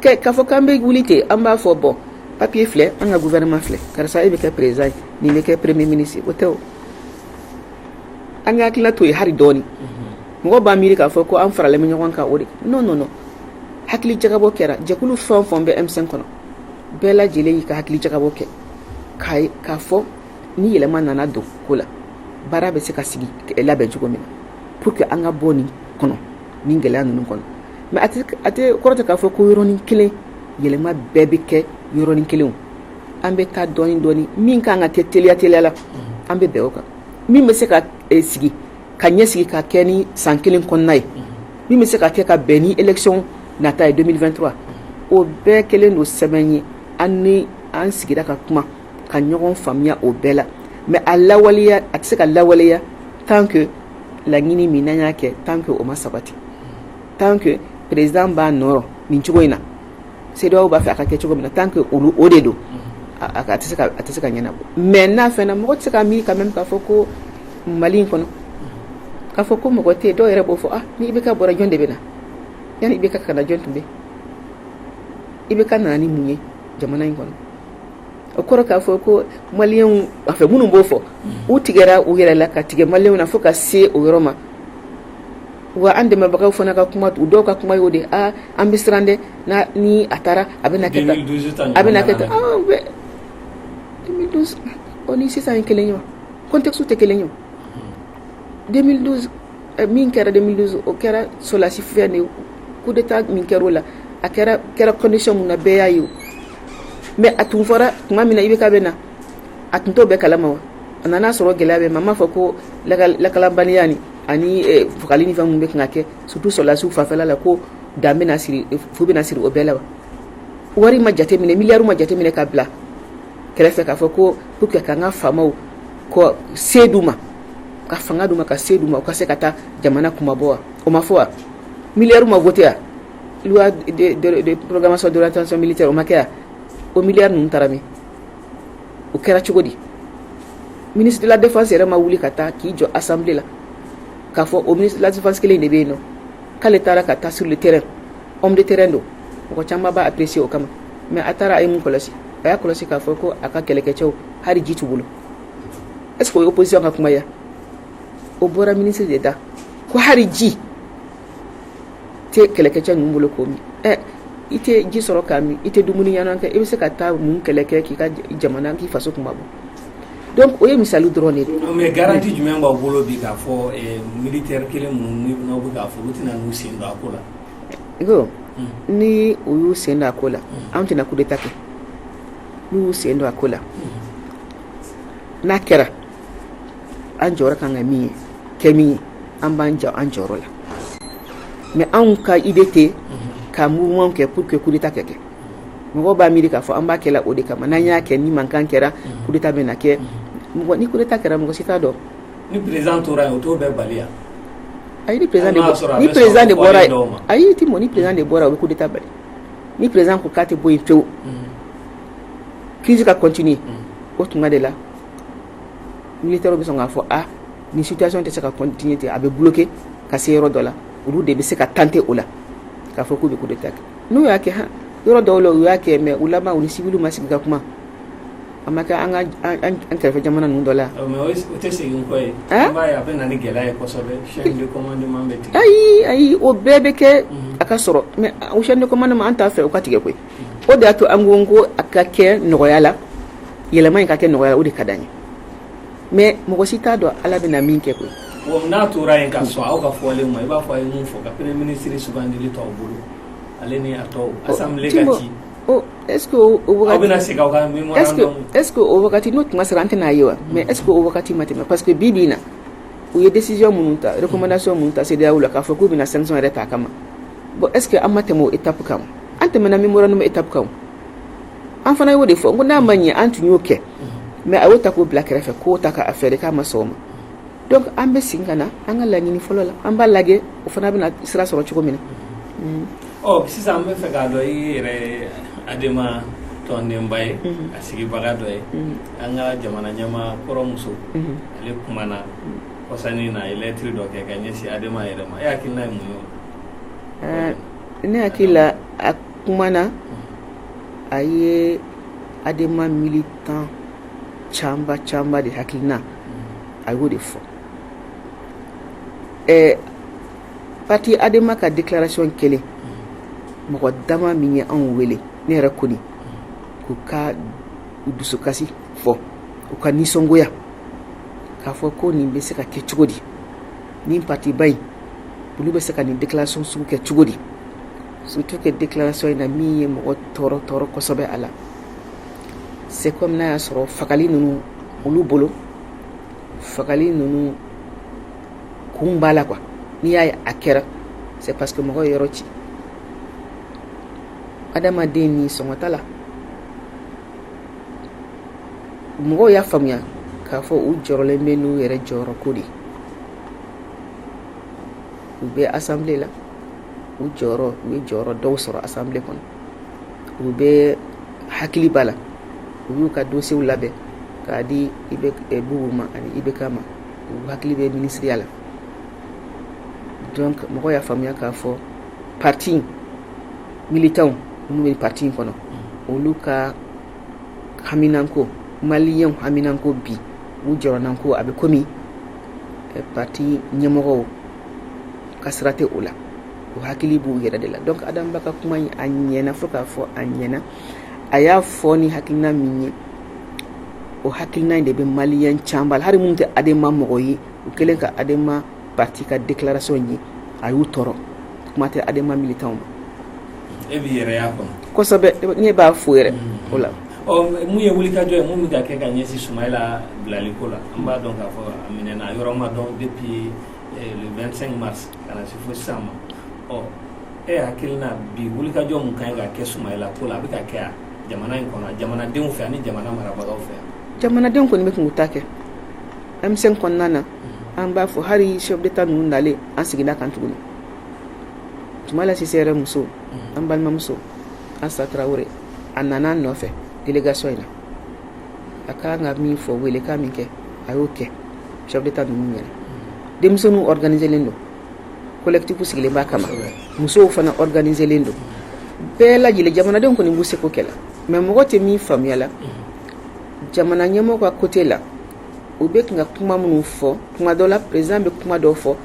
[SPEAKER 1] k'a fɔ k'an bɛ wuli ten an b'a fɔ bon papier filɛ an ka gouvernement filɛ karisa e bɛ kɛ président ye nin bɛ kɛ premier ministre o tɛ an ka hakilinata ye hali dɔɔnin mɔgɔ b'a miiri k'a fɔ ko an faralen bɛ ɲɔgɔn kan o de non non hakili jagabɔ kɛra jɛkulu fɛn o fɛn bɛ M5 kɔnɔ bɛɛ lajɛlen y'i ka hakili jagabɔ kɛ k' k'a fɔ ni yɛlɛma nana don ko la baara bɛ se ka sigi labɛn cogo min na pour que an ka bɔ nin kɔnɔ nin gɛlɛya ninnu kɔnɔ mais a tɛ kɔrɔ tɛ k'a fɔ ko yɔrɔnin kelen yɛlɛma bɛɛ bɛ kɛ yɔrɔnin kelen an bɛ taa dɔɔnin dɔɔnin min ka kan ka kɛ teliya teliya la an bɛ bɛn o kan min bɛ se ka sigi ka ɲɛsigi ka kɛ ni san kelen kɔnɔna ye min bɛ se ka kɛ ka bɛn ni élection nata ye deux mille vingt-trois o bɛɛ kelen don sɛbɛn ye an ni an sigira ka kuma ka ɲɔgɔn faamuya o bɛɛ la mais a lawaleya a tɛ se ka lawaleya tant que laɲini min n'an y'a kɛ tant que o ma sabati tant que président b'a nɔ rɔ nin cogo in na CEDEAO b'a fɛ a ka kɛ cogo min na tant que olu o de don a tɛ se ka a tɛ se ka ɲɛnabɔ mais n'a fɛnna mɔgɔ tɛ se ka miiri quand même k'a fɔ ko Mali in kɔnɔ k'a fɔ ko mɔgɔ tɛ yen dɔw yɛrɛ b'o fɔ ah ni IBK bɔra jɔn de bɛ na yanni IBK ka na jɔn tun bɛ yen IBK nana ni mun ye jamana in kɔnɔ o kɔrɔ k'a fɔ ko maliyɛnw a fɛ minnu b'o fɔ u tigɛra u yɛrɛ la ka tigɛ maliyɛnw na fo ka se o yɔrɔ ma wa an dɛmɛbagaw fana ka kuma u dɔw ka kuma y'o de an bɛ siran dɛ ni a taara a bɛ kɛ a bɛna kɛ tan deux mille douze o ni sisan ye kelen ye wa contextew tɛ kelen ye min kɛra 2012 o kɛra solasi fɛ de coup d'état min kɛra o la a kɛra condition minnu na bɛɛ y'a ye mais a tun fɔra tuma min na IBK bɛ na a tun t'o bɛɛ kalama wa a nana a sɔrɔ gɛlɛya bɛ a m'a fɔ ko lakanabaliya nin ani fagali ni fɛn minnu bɛ kan ka kɛ surtout sɔrɔlasiw fanfɛla la ko dan bɛna siri fu bɛna siri o bɛɛ la wa wari ma jate minɛ miliyari ma jate minɛ ka bila kɛrɛfɛ k'a fɔ ko pour que k'an ka faamaw ko se d'u ma ka fanga d'u ma ka se d'u ma u ka se ka taa jamana kunmabɔ wa o ma fɔ wa miliyari ma voté wa loi de programmation d'orientation militaire o ma kɛ wa o miliyari ninnu taara min o kɛra cogo di ministre de la défense yɛrɛ ma wuli ka taa k'i jɔ assemblée la k'a fɔ o ministre de la défense kelen de bɛ yen nɔ k'ale taara ka taa sur le terrain homme de terrain don mɔgɔ caman b'a apprécier o kama mais a taara a ye mun kɔlɔsi a y'a kɔlɔsi k'a fɔ ko a ka kɛlɛkɛcɛw hali ji t'u bolo est-ce que o ye opposition ka kuma ye o bɔra ministre de da ko hari ji tɛ kɛlɛkɛcɛ ninnu bolo k'o min ɛ i tɛ ji sɔrɔ k'a min i tɛ dumuni ɲɛnama kɛ i bɛ se ka taa mun kɛlɛ kɛ k'i ka jamana k'i faso kunmabɔ donc o ye misali dɔrɔn de ye. mais garantie jumɛn
[SPEAKER 2] b'aw bolo bi k'a fɔ eh, militaire kelen minnu n'aw bɛ k'a fɔ olu tɛna n'u sen don a ko la. ko hmm.
[SPEAKER 1] ni u y'u sen don a ko la hmm. anw tɛna coup d'état kɛ n'u y'u sen don a ko la. Hmm. n'a kɛra an jɔ ka ka min ye kɛ min ye an b'an jɔ an jɔyɔrɔ la mɛ anw ka i bɛ ten ka mu kɛ pur que kuta kɛ kɛ mɔgɔ b'a miiri k'a fɔ an b'a kɛ o de kama n'an y'a kɛ ni mankan kɛra kuta bɛ na kɛ mɔgɔ ni kuta kɛra mɔgɔ si t'a dɔn ni perez tora
[SPEAKER 2] o to bɛ bali a ni
[SPEAKER 1] perez ni perez de bɔra a y'i tɛ mɔn ni perez de bɔra o bɛ kuta bali ni perez ko k'a tɛ bɔ yen pewu crise ka continuer o tuma de la militaires bɛ sɔn k'a fɔ aa nin situation tɛ se ka continuer ten a bɛ bloquer ka se yɔrɔ dɔ la olu de bɛ se ka tenter o la k'a fɔ k'u bɛ coup d'Etat kɛ n'u y'a kɛ han yɔrɔ dɔw la u y'a kɛ mais u laban u ni civils ma sigi ka kuma a ma kɛ an ka an kɛrɛfɛ jamana ninnu dɔ la yan mais o tɛ segin
[SPEAKER 2] kɔ ye an b'a ye a bɛ na ni gɛlɛya ye kosɛbɛ chaîne de commandement bɛ tigɛ ayi ayi o bɛɛ
[SPEAKER 1] bɛ kɛ a ka sɔrɔ mais o chaîne de commandement an t'a fɛ o ka tigɛ koyi o de y'a to an ko ko a ka kɛ nɔgɔya la yɛlɛma in ka kɛ nɔgɔya la o de ka d'an ye mais mɔgɔ si t'a dɔn ala bɛna min kɛ koyi n'a tora yen ka
[SPEAKER 2] sɔn aw ka fɔlen ma i b'a fɔ a ye min fɔ ka premier ministre sugandili to aw bolo ale ni a
[SPEAKER 1] tɔw
[SPEAKER 2] assemblée ka ci est-ce que o
[SPEAKER 1] wagati n'o tuma sera an tɛna a ye wa mais est-ce que o wagati ma tɛmɛ parce que bi bi in na u ye décision minnu ta recommandation minnu ta CEDEAO la k'a fɔ k'u bɛna sanction yɛrɛ ta a kama ma bon est ce que an ma tɛmɛ o étape kan an tɛmɛna memorandum étape kan an fana y'o de fɔ n ko n'a ma ɲɛ an tun y'o kɛ mais a y'o ta k'o bila kɛrɛfɛ k'o ta k'a fɛɛrɛ k'a ma sɔn o ma donc an bɛ segin ka na an ka laɲini fɔlɔ la an b'a lajɛ o fana bɛna sira sɔrɔ cogo min
[SPEAKER 2] na ɔ sisan
[SPEAKER 1] an b'a
[SPEAKER 2] fɛ k'a dɔn i yɛrɛ adema tɔndenba ye a sigibaga dɔ ye an ka jamana ɲɛmaa kɔrɔ muso ale kumana kɔsa in na a ye lɛtiri dɔ kɛ ka ɲɛsin adema yɛrɛ ma e hakilina ye mun ye o la ne hakili
[SPEAKER 1] la a kumana a ye adema militan caman caman de hakilina a y'o de fɔ ɛɛ pati adema ka declaration kelen mɔgɔ dama min ye anw wele ne yɛrɛ kɔni k'u ka dusukasi fɔ u ka nisɔngoya k'a fɔ ko nin bɛ se ka kɛ cogo di nin patiba in olu bɛ se ka nin declaration sugu kɛ cogo di surtout que declaration in na min ye mɔgɔ tɔɔrɔ tɔɔrɔ kosɛbɛ a la c'est comme n'i y'a sɔrɔ fagali ninnu olu bolo fagali ninnu kun b'a la quoi n'i y'a ye a kɛra c'est parce que mɔgɔw ye yɔrɔ ci adamaden ni sɔngɔ t'a la mɔgɔw y'a faamuya k'a fɔ u jɔrɔlen bɛ n'u yɛrɛ jɔyɔrɔ ko de u bɛ asanbile la u jɔyɔrɔ u ye jɔyɔrɔ dɔw sɔrɔ asanbile kɔnɔ u bɛɛ hakili b'a la u y'u ka dosiyew labɛn k'a di IB eh, bubu ma ani IBK ma u hakili bɛ minisiriya la donc mɔgɔw y'a faamuya k'a fɔ parti militanw minnu bɛ parti in kɔnɔ olu ka haminanko maliyɛnw haminanko bi u jɔrɔnanko a bɛ komi parti ɲɛmɔgɔw ka sira tɛ o la u hakili b'u yɛrɛ de la donc Adam Ba ka kuma in a ɲɛna fo k'a fɔ a ɲɛna a y'a fɔ ni hakilina min ye o hakilina in de bɛ maliyɛn caman la hari minnu tɛ Adema mɔgɔ ye u kɛlen ka Adema pati ka declaration ye a y'u tɔɔrɔ kuma tɛ adema militan
[SPEAKER 2] ma e b'i yɛrɛ y'a kɔnɔ kosɛbɛ ne b'a
[SPEAKER 1] fo yɛrɛ mm. o la mun ye
[SPEAKER 2] wulikajɔ ye mun bɛ ka kɛ ka ɲɛsin sumayila bilali ko la an b'a dɔn k'a fɔ a minɛna a yɔrɔ ma dɔn depuis le 25 mars ka na se fo sisan ma ɔ e hakilina bi wulikajɔ mun ka kan ka kɛ sumayila ko la a bɛ ka kɛ jamana in kɔnɔ jamanadenw fɛ ani jamana marabagaw fɛ jamanadenw kɔni bɛ k'u ta
[SPEAKER 1] kɛ M5 kɔnɔna na an b'a fɔ hali chef d'état ninnu nalen an seginna kan tuguni Sumayila Sise yɛrɛ muso an balimamuso Asa Traoré a nana an nɔfɛ délégation in na a kan ka min fɔ wele ka min kɛ a y'o kɛ chef d'état ninnu ɲɛna denmisɛnninw organiselen don collectif sigilen b'a kama musow fana organiselen don bɛɛ lajɛlen jamanadenw kɔni b'u seko kɛ la mais mɔgɔ tɛ min faamuya la jamana ɲɛmɔgɔ ka côté la u bɛ kan ka kuma minnu fɔ kuma dɔ la président bɛ kuma dɔw fɔ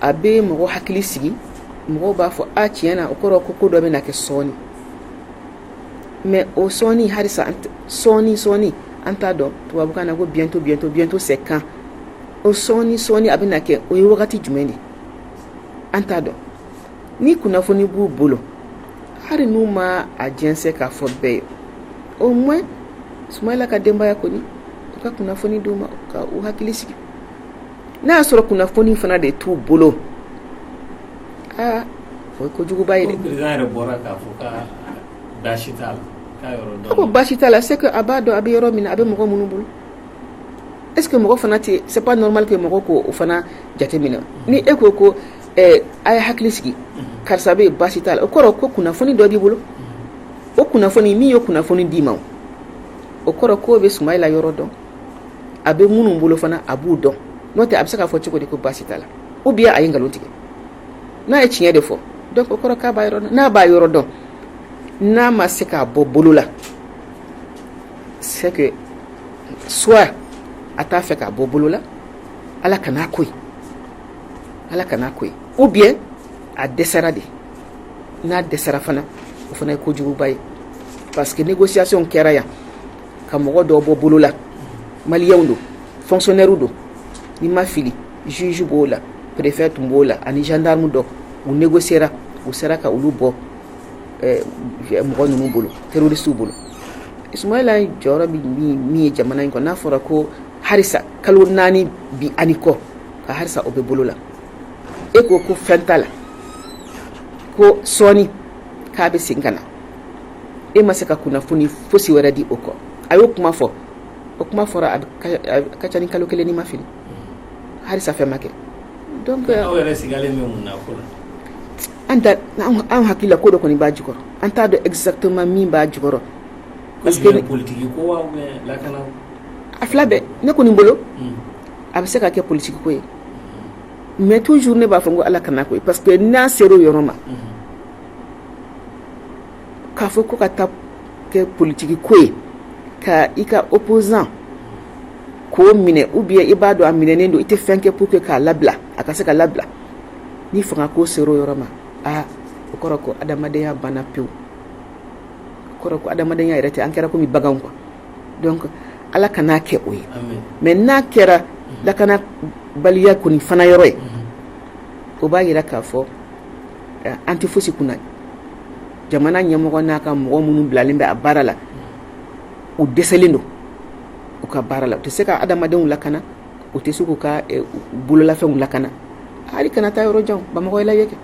[SPEAKER 1] a bɛ mɔgɔ hakili sigi mɔgɔw b'a fɔ a tiɲɛ na o kɔrɔ ko ko dɔ bɛ na kɛ sɔɔni mais o sɔɔni halisa sɔɔni sɔɔni an t'a dɔn tubabukan na ko bientôt bientôt bientôt c'est quand o sɔɔni sɔɔni a bɛ na kɛ o ye wagati jumɛn de an t'a dɔn ni kunnafoni b'u bolo hali n'u ma a jɛnsɛn k'a fɔ bɛɛ ye au moins Sumayila ka denbaya kɔni u ka kunnafoni d'u ma ka u hakili sigi n'a y'a sɔrɔ kunnafoni fana de t'u bolo aa o ye ko juguba
[SPEAKER 2] ye ko baasi t'a la c'est que
[SPEAKER 1] a b'a dɔn a bɛ yɔrɔ min na a bɛ mɔgɔ minnu bolo est-ce que mɔgɔ fana tɛ c'est pas normal que mɔgɔ k'o fana jateminɛ ni e ko ko ɛɛ a ye hakili sigi karisa bɛ baasi t'a la o kɔrɔ ko kunnafoni dɔ b'i bolo o kunnafoni min ye kunnafoni d'i ma o kɔrɔ k'o bɛ Sumayila yɔrɔ dɔn a bɛ minnu bolo fana a b'u dɔn n'o tɛ a bɛ se k'a fɔ cogo di ko baasi t'a la ou bien a ye nkalon tigɛ n'a ye tiɲɛ de fɔ donc o kɔrɔ k'a b'a yɔrɔ dɔn n'a b'a yɔrɔ dɔn n'a ma se k'a bɔ bolo la c'est que soit a t'a fɛ k'a bɔ bolo la ala kan'a k'o ye ala kan'a k'o ye ou bien a dɛsɛra de n'a dɛsɛra fana o fana ye ko juguba ye parce que négociation kɛra yan ka mɔgɔ dɔw bɔ bolo la maliyɛnw don fonctionnaire don ni ma fili juge b'o la préfet tun b'o la ani gendarme dɔ u négociera u sera ka olu bɔ eh, mɔgɔ ninnu bolo terroristew bolo Sumayila jɔyɔrɔ min ye jamana in kɔnɔ n'a fɔra ko halisa kalo naani bi ani kɔ ka halisa o bɛ bolo la e ko ko fɛn t'a la ko sɔɔni k'a bɛ segin ka na e ma se ka kunnafoni fosi wɛrɛ di o kɔ a y'o kuma fɔ o kuma fɔra a ka ca ni kalo kelen ni ma fili halisa fɛn ma kɛ an an hakili la ko dɔ kɔni b'a jukɔrɔ an t'a dɔn exactement min b'a jukɔrɔ
[SPEAKER 2] a fila bɛɛ
[SPEAKER 1] ne kɔni bolo a bɛ se ka kɛ politique ko ye mais toujours ne b'a fɔ ko Ala kana kɛ o ye parce que n'a sera o yɔrɔ ma k'a fɔ ko ka taa kɛ politique ko ye ka i ka opposant k'o minɛ ou bien i b'a dɔn a minɛnen don i tɛ fɛn kɛ pour que k'a labila a ka se ka labila ni fanga ko sera o yɔrɔ ma aa o kɔrɔ ko adamadenya banna pewu o kɔrɔ ko adamadenya yɛrɛ tɛ an kɛra komi baganw quoi Ala kana kɛ o ye mais n'a kɛra lakana baliya kɔni fana yɔrɔ ye o b'a yira k'a fɔ an tɛ fosi kunna jamana ɲɛmɔgɔ n'a ka mɔgɔ minnu bilalen bɛ a baara la u dɛsɛlen don u ka baara la u tɛ se ka adamadenw lakana u tɛ se k'u ka bololafɛnw lakana hali kana taa yɔrɔ jan bamakɔ lajɛ kɛ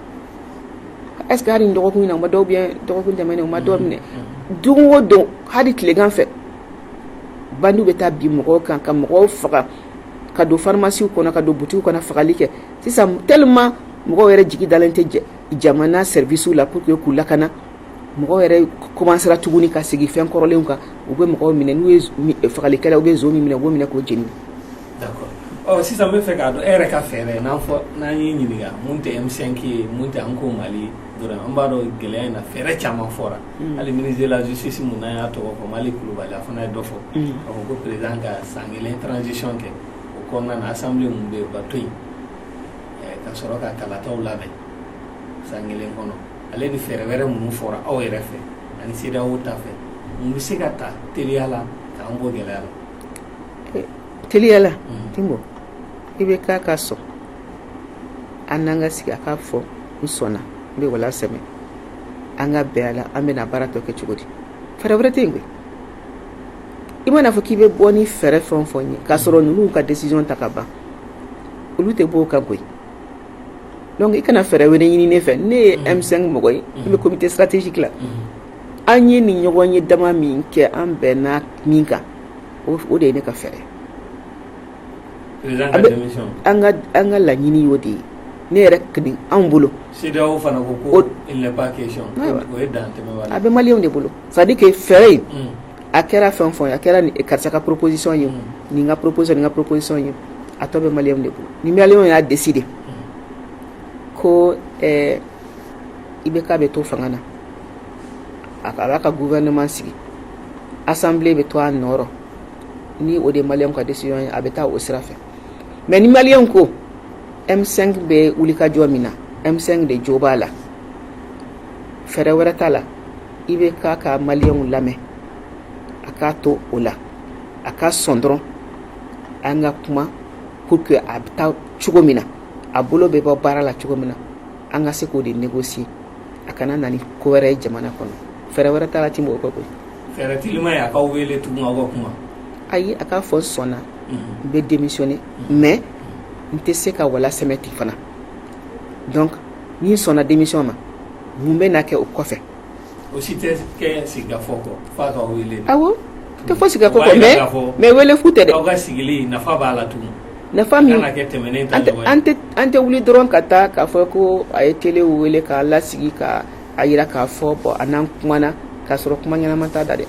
[SPEAKER 1] est-ce que nin dɔgɔkun na u ma dɔ ou bien dɔgɔkun tɛmɛnen u ma dɔ minɛ don o don hali tilegan fɛ bandiw bɛ taa bin mɔgɔw kan ka mɔgɔw faga ka don farimasiw kɔnɔ ka don butiki kɔnɔ fagali kɛ sisan tellement mɔgɔw yɛrɛ jigi dalen tɛ jamana service la pour que k'u lakana mɔgɔw yɛrɛ commencera tuguni ka segin fɛn kɔrɔlenw kan u bɛ mɔgɔ minɛ n'u ye fagalikɛla u bɛ nson min minɛ u b'o minɛ k'o
[SPEAKER 2] jeni d'accord sisan n b'a fɛ k'a dɔn e yɛrɛ ka fɛɛrɛ n'a fɔ n'an y'i ɲininka mun tɛ M5 ye mun tɛ an ko mali dɔrɔn an b'a dɔn gɛlɛya in na fɛɛrɛ caman fɔra mm. hali ministre de la justice mun n'an y'a tɔgɔ fɔ Maliki Kulubali a fana ye dɔ fɔ mm. k'a fɔ ko président ka san kelen transition kɛ o kɔnɔna na assemblée mun bɛ yen o ka to yen ka sɔrɔ ka kalataw labɛn san kelen kɔnɔ ale ni fɛɛrɛ wɛrɛ minnu fɔra aw yɛrɛ fɛ
[SPEAKER 1] ani CEDEAO ta fɛ mun bɛ se ka ta teliya la k'an bɔ gɛlɛya la teliya la Tinbo IBK ka sɔn an n'a ka sigi a k'a fɔ n sɔnna n bɛ wala sɛmɛ an ka bɛn a la an bɛna baara tɔ kɛ cogo di fɛɛrɛ wɛrɛ tɛ yen koyi i mana fɔ k'i bɛ bɔ ni fɛɛrɛ fɛn o fɛn ye k'a sɔrɔ ninnu ka décision ta ka ban olu tɛ bɔ o kan koyi donc i kana fɛɛrɛ wɛrɛ ɲini ne fɛ ne ye M5 mɔgɔ ye ne bɛ comité stratégique la an ye nin ɲɔgɔn ye dama min kɛ an bɛnna min kan o de ye ne ka fɛɛrɛ an ka laɲini y'o de ye ne yɛrɛ anw
[SPEAKER 2] bolo a bɛ maliyɛnw de bolo c'est-à-dire
[SPEAKER 1] que fɛɛrɛ in a kɛra fɛn o fɛn ye a kɛra karisa ka proposition ye nin ka proposition nin ka proposition ye a tɔ bɛ maliyɛnw de bolo ni maliyɛnw y'a décider ko IBK bɛ to fanga na a a b'a ka gouvernement sigi assemblée bɛ to a nɔrɔ ni o de maliyɛnw ka décision ye a bɛ taa o sira fɛ mais ni maliyɛnw ko M5 bɛ wulikajɔ min na M5 de jo b'a la fɛɛrɛ wɛrɛ t'a la IBK ka maliyɛnw lamɛn a k'a to o la a ka sɔn dɔrɔn an ka kuma pour que a bɛ taa cogo min na a bolo bɛ bɔ baara la cogo min na an ka se k'o de négocier a kana na ni ko wɛrɛ ye jamana kɔnɔ fɛɛrɛ wɛrɛ t'a la Timbo o kɔ koyi fɛɛrɛ
[SPEAKER 2] teliman ye a k'aw wele tugun aw ka kuma ayi a k'a
[SPEAKER 1] fɔ n sɔnna n bɛ démissionner mais n tɛ se ka wala sɛmɛ ten fana donc ni n sɔnna démission ma mun bɛna kɛ o kɔfɛ o si
[SPEAKER 2] tɛ kɛ sigikafɔ kɔ f'a k'aw wele awɔ tɛ fɔ
[SPEAKER 1] sigikafɔ kɔ mais wele fu tɛ dɛ aw ka sigili nafa
[SPEAKER 2] b'a la tugun nafa min kana kɛ
[SPEAKER 1] tɛmɛnen
[SPEAKER 2] ta ɲɔgɔn ye an tɛ wuli dɔrɔn
[SPEAKER 1] ka taa k'a fɔ ko a ye télé wele k'a lasigi ka a jira k'a fɔ bon a n'an kumana k'a sɔrɔ kuma ɲɛnama t'a da dɛ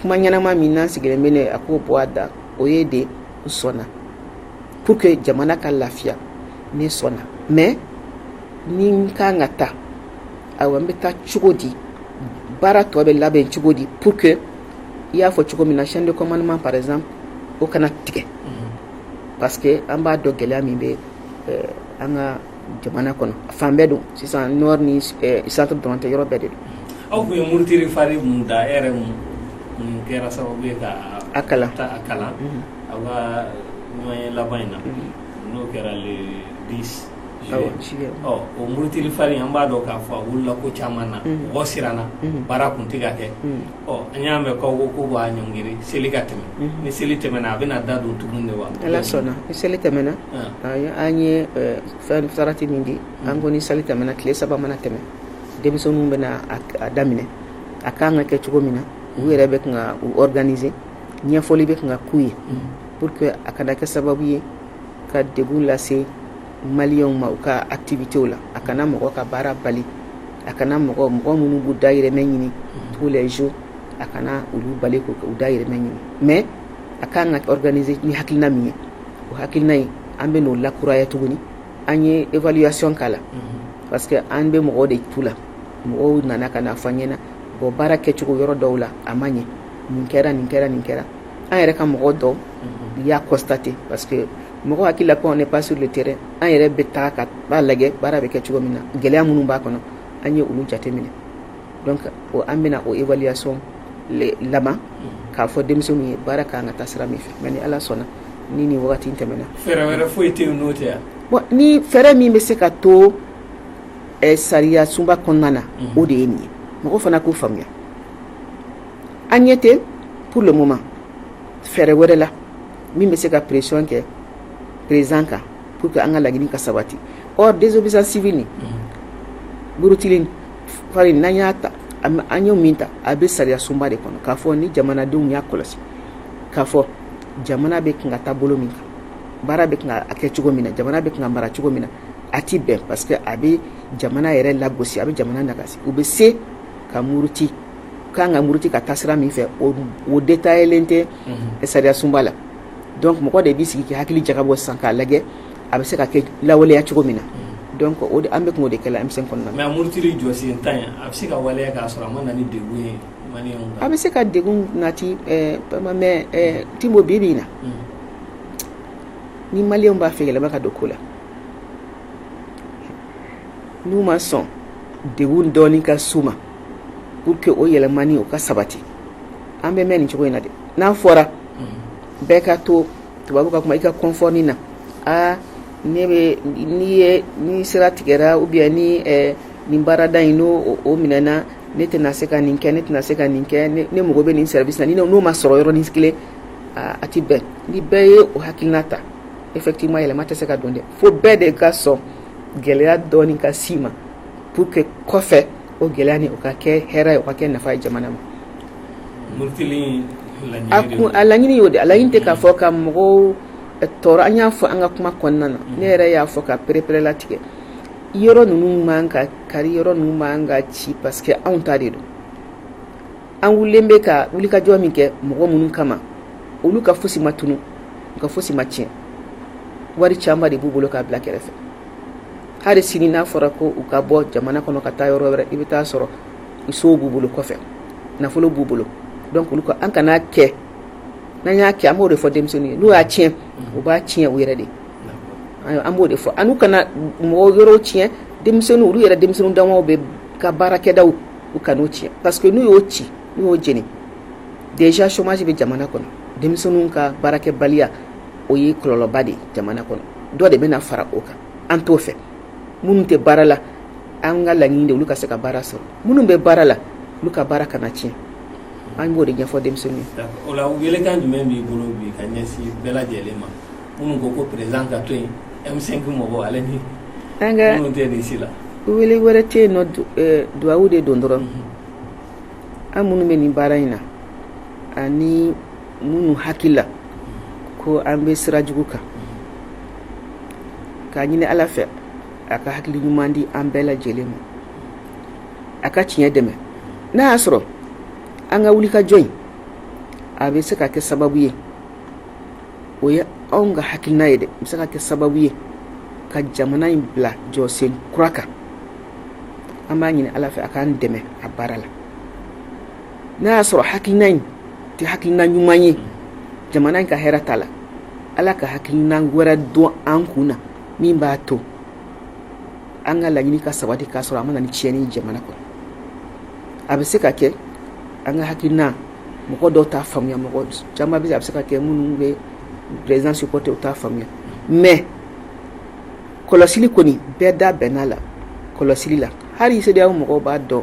[SPEAKER 1] kuma ɲɛnama min n'an sigilen bɛ a k'o bɔ a da o ye de n sɔnna pour que jamana ka lafiya ne sɔnna mais ni n kan ka taa ayiwa n bɛ taa cogo di baara tɔ bɛ labɛn cogo di pour que i y'a fɔ cogo min na chaîne de commandement par exemple o kana tigɛ parce que an b'a dɔn gɛlɛya min bɛ euh, an ka jamana kɔnɔ fan bɛɛ don sisan nord ni centre dɔrɔn tɛ yɔrɔ bɛɛ de don aw tun ye murutili
[SPEAKER 2] fari min da e yɛrɛ min kɛra sababu ye ka a kala a kalan aw ka ɲɔgɔnye laban in na n'o kɛra le dix juillet o murutili fari an b'a dɔn k'a fɔ a wulila ko caman na mɔgɔ siranna baara tun tɛ ka kɛ ɔ an y'a mɛn k'aw ko k'u b'a ɲɔngiri seli ka tɛmɛ, unhun, ni seli tɛmɛna
[SPEAKER 1] a bɛna da don tugun de wa, ni Ala sɔnna ni seli tɛmɛna an ye fɛn sarati min di an ko ni seli tɛmɛna tile saba mana tɛmɛ denmisɛnninw bɛna a daminɛ a kan ka kɛ cogo min na u yɛrɛ bɛ kan ka u organiser ɲɛfɔli bɛ kan ka k'u ye pour que a kana kɛ sababu ye ka degun lase maliyɛnw ma u ka activitéw la a kana mɔgɔ ka baara bali a kana mɔgɔ mɔgɔ minnu b'u dahirimɛ ɲini tous les jours a kana olu bali k'u dahirimɛ ɲini mais a kan ka organiser ni hakilina min ye o hakilina ye an bɛ n'o lakuraya tuguni an ye évaluation k'a la parce que an bɛ mɔgɔ de tu la mɔgɔw nana ka n'a fɔ an ɲɛna bon baara kɛcogo yɔrɔ dɔw la a ma ɲɛ nin kɛra nin kɛra nin kɛra an yɛrɛ ka mɔgɔ dɔw y'a constater parce que mɔgɔ hakili la ko on n'est pas sur le terrain an yɛrɛ bɛ taa ka b'a lajɛ baara bɛ kɛ cogo min na gɛlɛya minnu b'a kɔnɔ an ye olu jateminɛ donc o an bɛna o évaluation laban k'a fɔ denmisɛnninw ye baara kan ka taa sira min fɛ mais ni ala sɔnna ni nin wagati in tɛmɛna fɛɛrɛ wɛrɛ foyi tɛ
[SPEAKER 2] yen n'o tɛ yan bon ni
[SPEAKER 1] fɛɛrɛ min bɛ se ka to eh, sariya sunba kɔnɔna na mhm. o de ye nin ye mɔgɔ fana k'o faamuya an ɲɛ tɛ pour le moment fɛɛrɛ wɛrɛ la min bɛ se ka pression kɛ president kan pour que an ka laɲini ka sabati or désobéissance civile nin murutili fari n'an y'a ta an y'o min ta a bɛ sariyasunba de kɔnɔ k'a fɔ ni jamanadenw y'a kɔlɔsi k'a fɔ jamana bɛ kan ka taa bolo min kan baara bɛ kan ka kɛ cogo min na jamana bɛ kan ka mara cogo min na a tɛ bɛn parce que a bɛ jamana yɛrɛ lagosi a bɛ jamana nagasi u bɛ se ka muruti k'an ka muruti ka taa sira min fɛ o détaillé-len tɛ sariyasunba la donc mɔgɔ de b'i sigi k'i hakili jagabɔ sisan k'a lajɛ a bɛ se ka kɛ lawaleya cogo min na donc o de an bɛ tun o de kɛla M5 kɔnɔna na mais a murutili jɔsen 10 in a bɛ
[SPEAKER 2] se ka waleya k'a sɔrɔ a ma na ni degun ye maliyɛnw kan a bɛ se ka
[SPEAKER 1] degun nati ɛɛ vraiment mais ɛɛ Tinbo bi-bi in na ni maliyɛnw b'a fɛ yɛlɛma ka don ko la n'u ma sɔn degun dɔɔnin ka s'u ma pour que o yɛlɛmani o ka sabati an bɛ mɛn nin cogo in na dɛ n'a fɔra bɛɛ ka to tubabu ka kuma i ka confort nin na aa ne bɛ n'i ye ni sira tigɛra ou bien ni ɛɛ nin baarada in n'o minɛna ne tɛna se ka nin kɛ ne tɛna se ka nin kɛ ne ne mago bɛ nin service in na n'o ma sɔrɔ yɔrɔnin kelen aa a tɛ bɛn ni bɛɛ ye o hakilina ta effectivement yɛlɛma tɛ se ka don dɛ fo bɛɛ de ka sɔn gɛlɛya dɔɔnin ka s'i ma pour que kɔfɛ O gɛlɛyanin o ka kɛ hɛrɛ ye o ka kɛ nafa ye jamana
[SPEAKER 2] ma
[SPEAKER 1] a kun a laɲini y'o de a laɲini tɛ k'a fɔ ka mɔgɔw tɔɔrɔ an y'a fɔ an ka kuma kɔnɔna na ne yɛrɛ y'a fɔ k'a pereperelatigɛ yɔrɔ ninnu man kan ka kari yɔrɔ ninnu man kan ka ci parce que anw ta de don an wulilen bɛ ka wulikajɔ min kɛ mɔgɔ minnu kama olu ka fosi ma tunu u ka fosi ma tiɲɛ wari caman de b'u bolo k'a bila kɛrɛfɛ hali sini n'a fɔra ko u ka bɔ jamana kɔnɔ ka taa yɔrɔ wɛrɛ i bɛ taa sɔrɔ sow b'u bolo kɔfɛ nafolo b'u bolo donc olu ko an kana kɛ n'an y'a kɛ an b'o de fɔ denmisɛnninw ye n'u y'a tiɲɛ u b'a tiɲɛ u yɛrɛ de an b'o de fɔ an kana mɔgɔw yɔrɔw tiɲɛ denmisɛnninw olu yɛrɛ denmisɛnninw damaw bɛ ka baarakɛdaw u kan'o tiɲɛ parce que n'u y'o ci n'u y'o jeni déjà chômage bɛ jamana kɔnɔ denmisɛnninw ka baarakɛbaliya o ye kɔlɔlɔba de ye jamana kɔnɔ dɔ de bɛna fara o kan an t'o fɛ minnu tɛ baara la an ka laɲini de olu ka se ka baara sɔrɔ minnu bɛ baara la olu ka baara kana tiɲɛ an b'o de ɲɛfɔ denmisɛnninw ye o la welekan jumɛn
[SPEAKER 2] b'i bolo bi ka ɲɛsin bɛɛ lajɛlen ma minnu ko ko président ka to yen M5 mɔgɔw ale ni an ka minnu tɛ nin si la wele wɛrɛ tɛ
[SPEAKER 1] yen non du- eh, duwawu de don dɔrɔn an minnu bɛ nin baara in na ani minnu hakili la ko an bɛ sira jugu kan k'a ɲini ala fɛ a ka hakili ɲuman di an bɛɛ lajɛlen ma a ka tiɲɛ dɛmɛ n'a y'a sɔrɔ an ka wulikajɔ in a bɛ se ka kɛ sababu ye o ye anw ka hakilina ye dɛ bɛ se ka kɛ sababu ye ka jamana in bila jɔsen kura kan an b'a ɲini ala fɛ a k'an dɛmɛ a baara la n'a y'a sɔrɔ hakilina in tɛ hakilina ɲuman ye jamana in ka hɛrɛ ta la ala ka hakilina wɛrɛ don an kun na min b'a to an ka laɲini ka sabati k'a sɔrɔ a ma na ni tiɲɛni ye jamana kɔnɔ a bɛ se ka kɛ an ka hakilina mɔgɔ dɔw t'a faamuya mɔgɔ caman bɛ a bɛ se ka kɛ minnu bɛ président supporter u t'a faamuya mais kɔlɔsili kɔni bɛɛ da bɛnna la kɔlɔsili la hali cedeao mɔgɔ b'a dɔn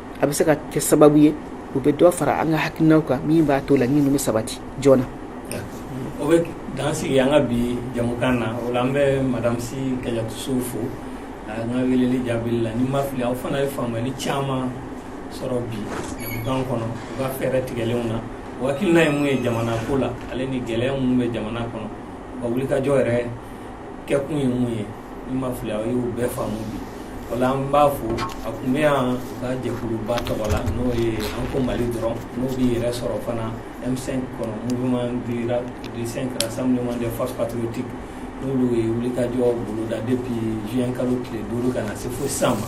[SPEAKER 1] a bɛ se ka kɛ sababu ye u bɛ dɔ fara an ka hakilinaw kan min b'a to laɲini bɛ sabati joona
[SPEAKER 2] o bɛ dan sigi an ka bi jamukan na o la an bɛ madame sy kadiatou sow fo an ka weleli jaabili la ni n ma fili aw fana ye faamuyali caman sɔrɔ bi jamukan kɔnɔ u ka fɛɛrɛ tigɛlenw na o hakilina ye mun ye jamana ko la ale ni gɛlɛya mun bɛ jamana kɔnɔ wulikajɔ yɛrɛ kɛkun ye mun ye n ma fili aw y'u bɛɛ faamu bi o la an b'a fo a tun bɛ yan ka jɛkuluba tɔgɔ la n'o ye an ko mali dɔrɔn n'o b'i yɛrɛ sɔrɔ fana m5 kɔnɔ mouvement du du 5 rassemblement des forces patriotiques n'olu ye wulikajɔ boloda depuis juin kalo tile duuru ka na se fo sisan ma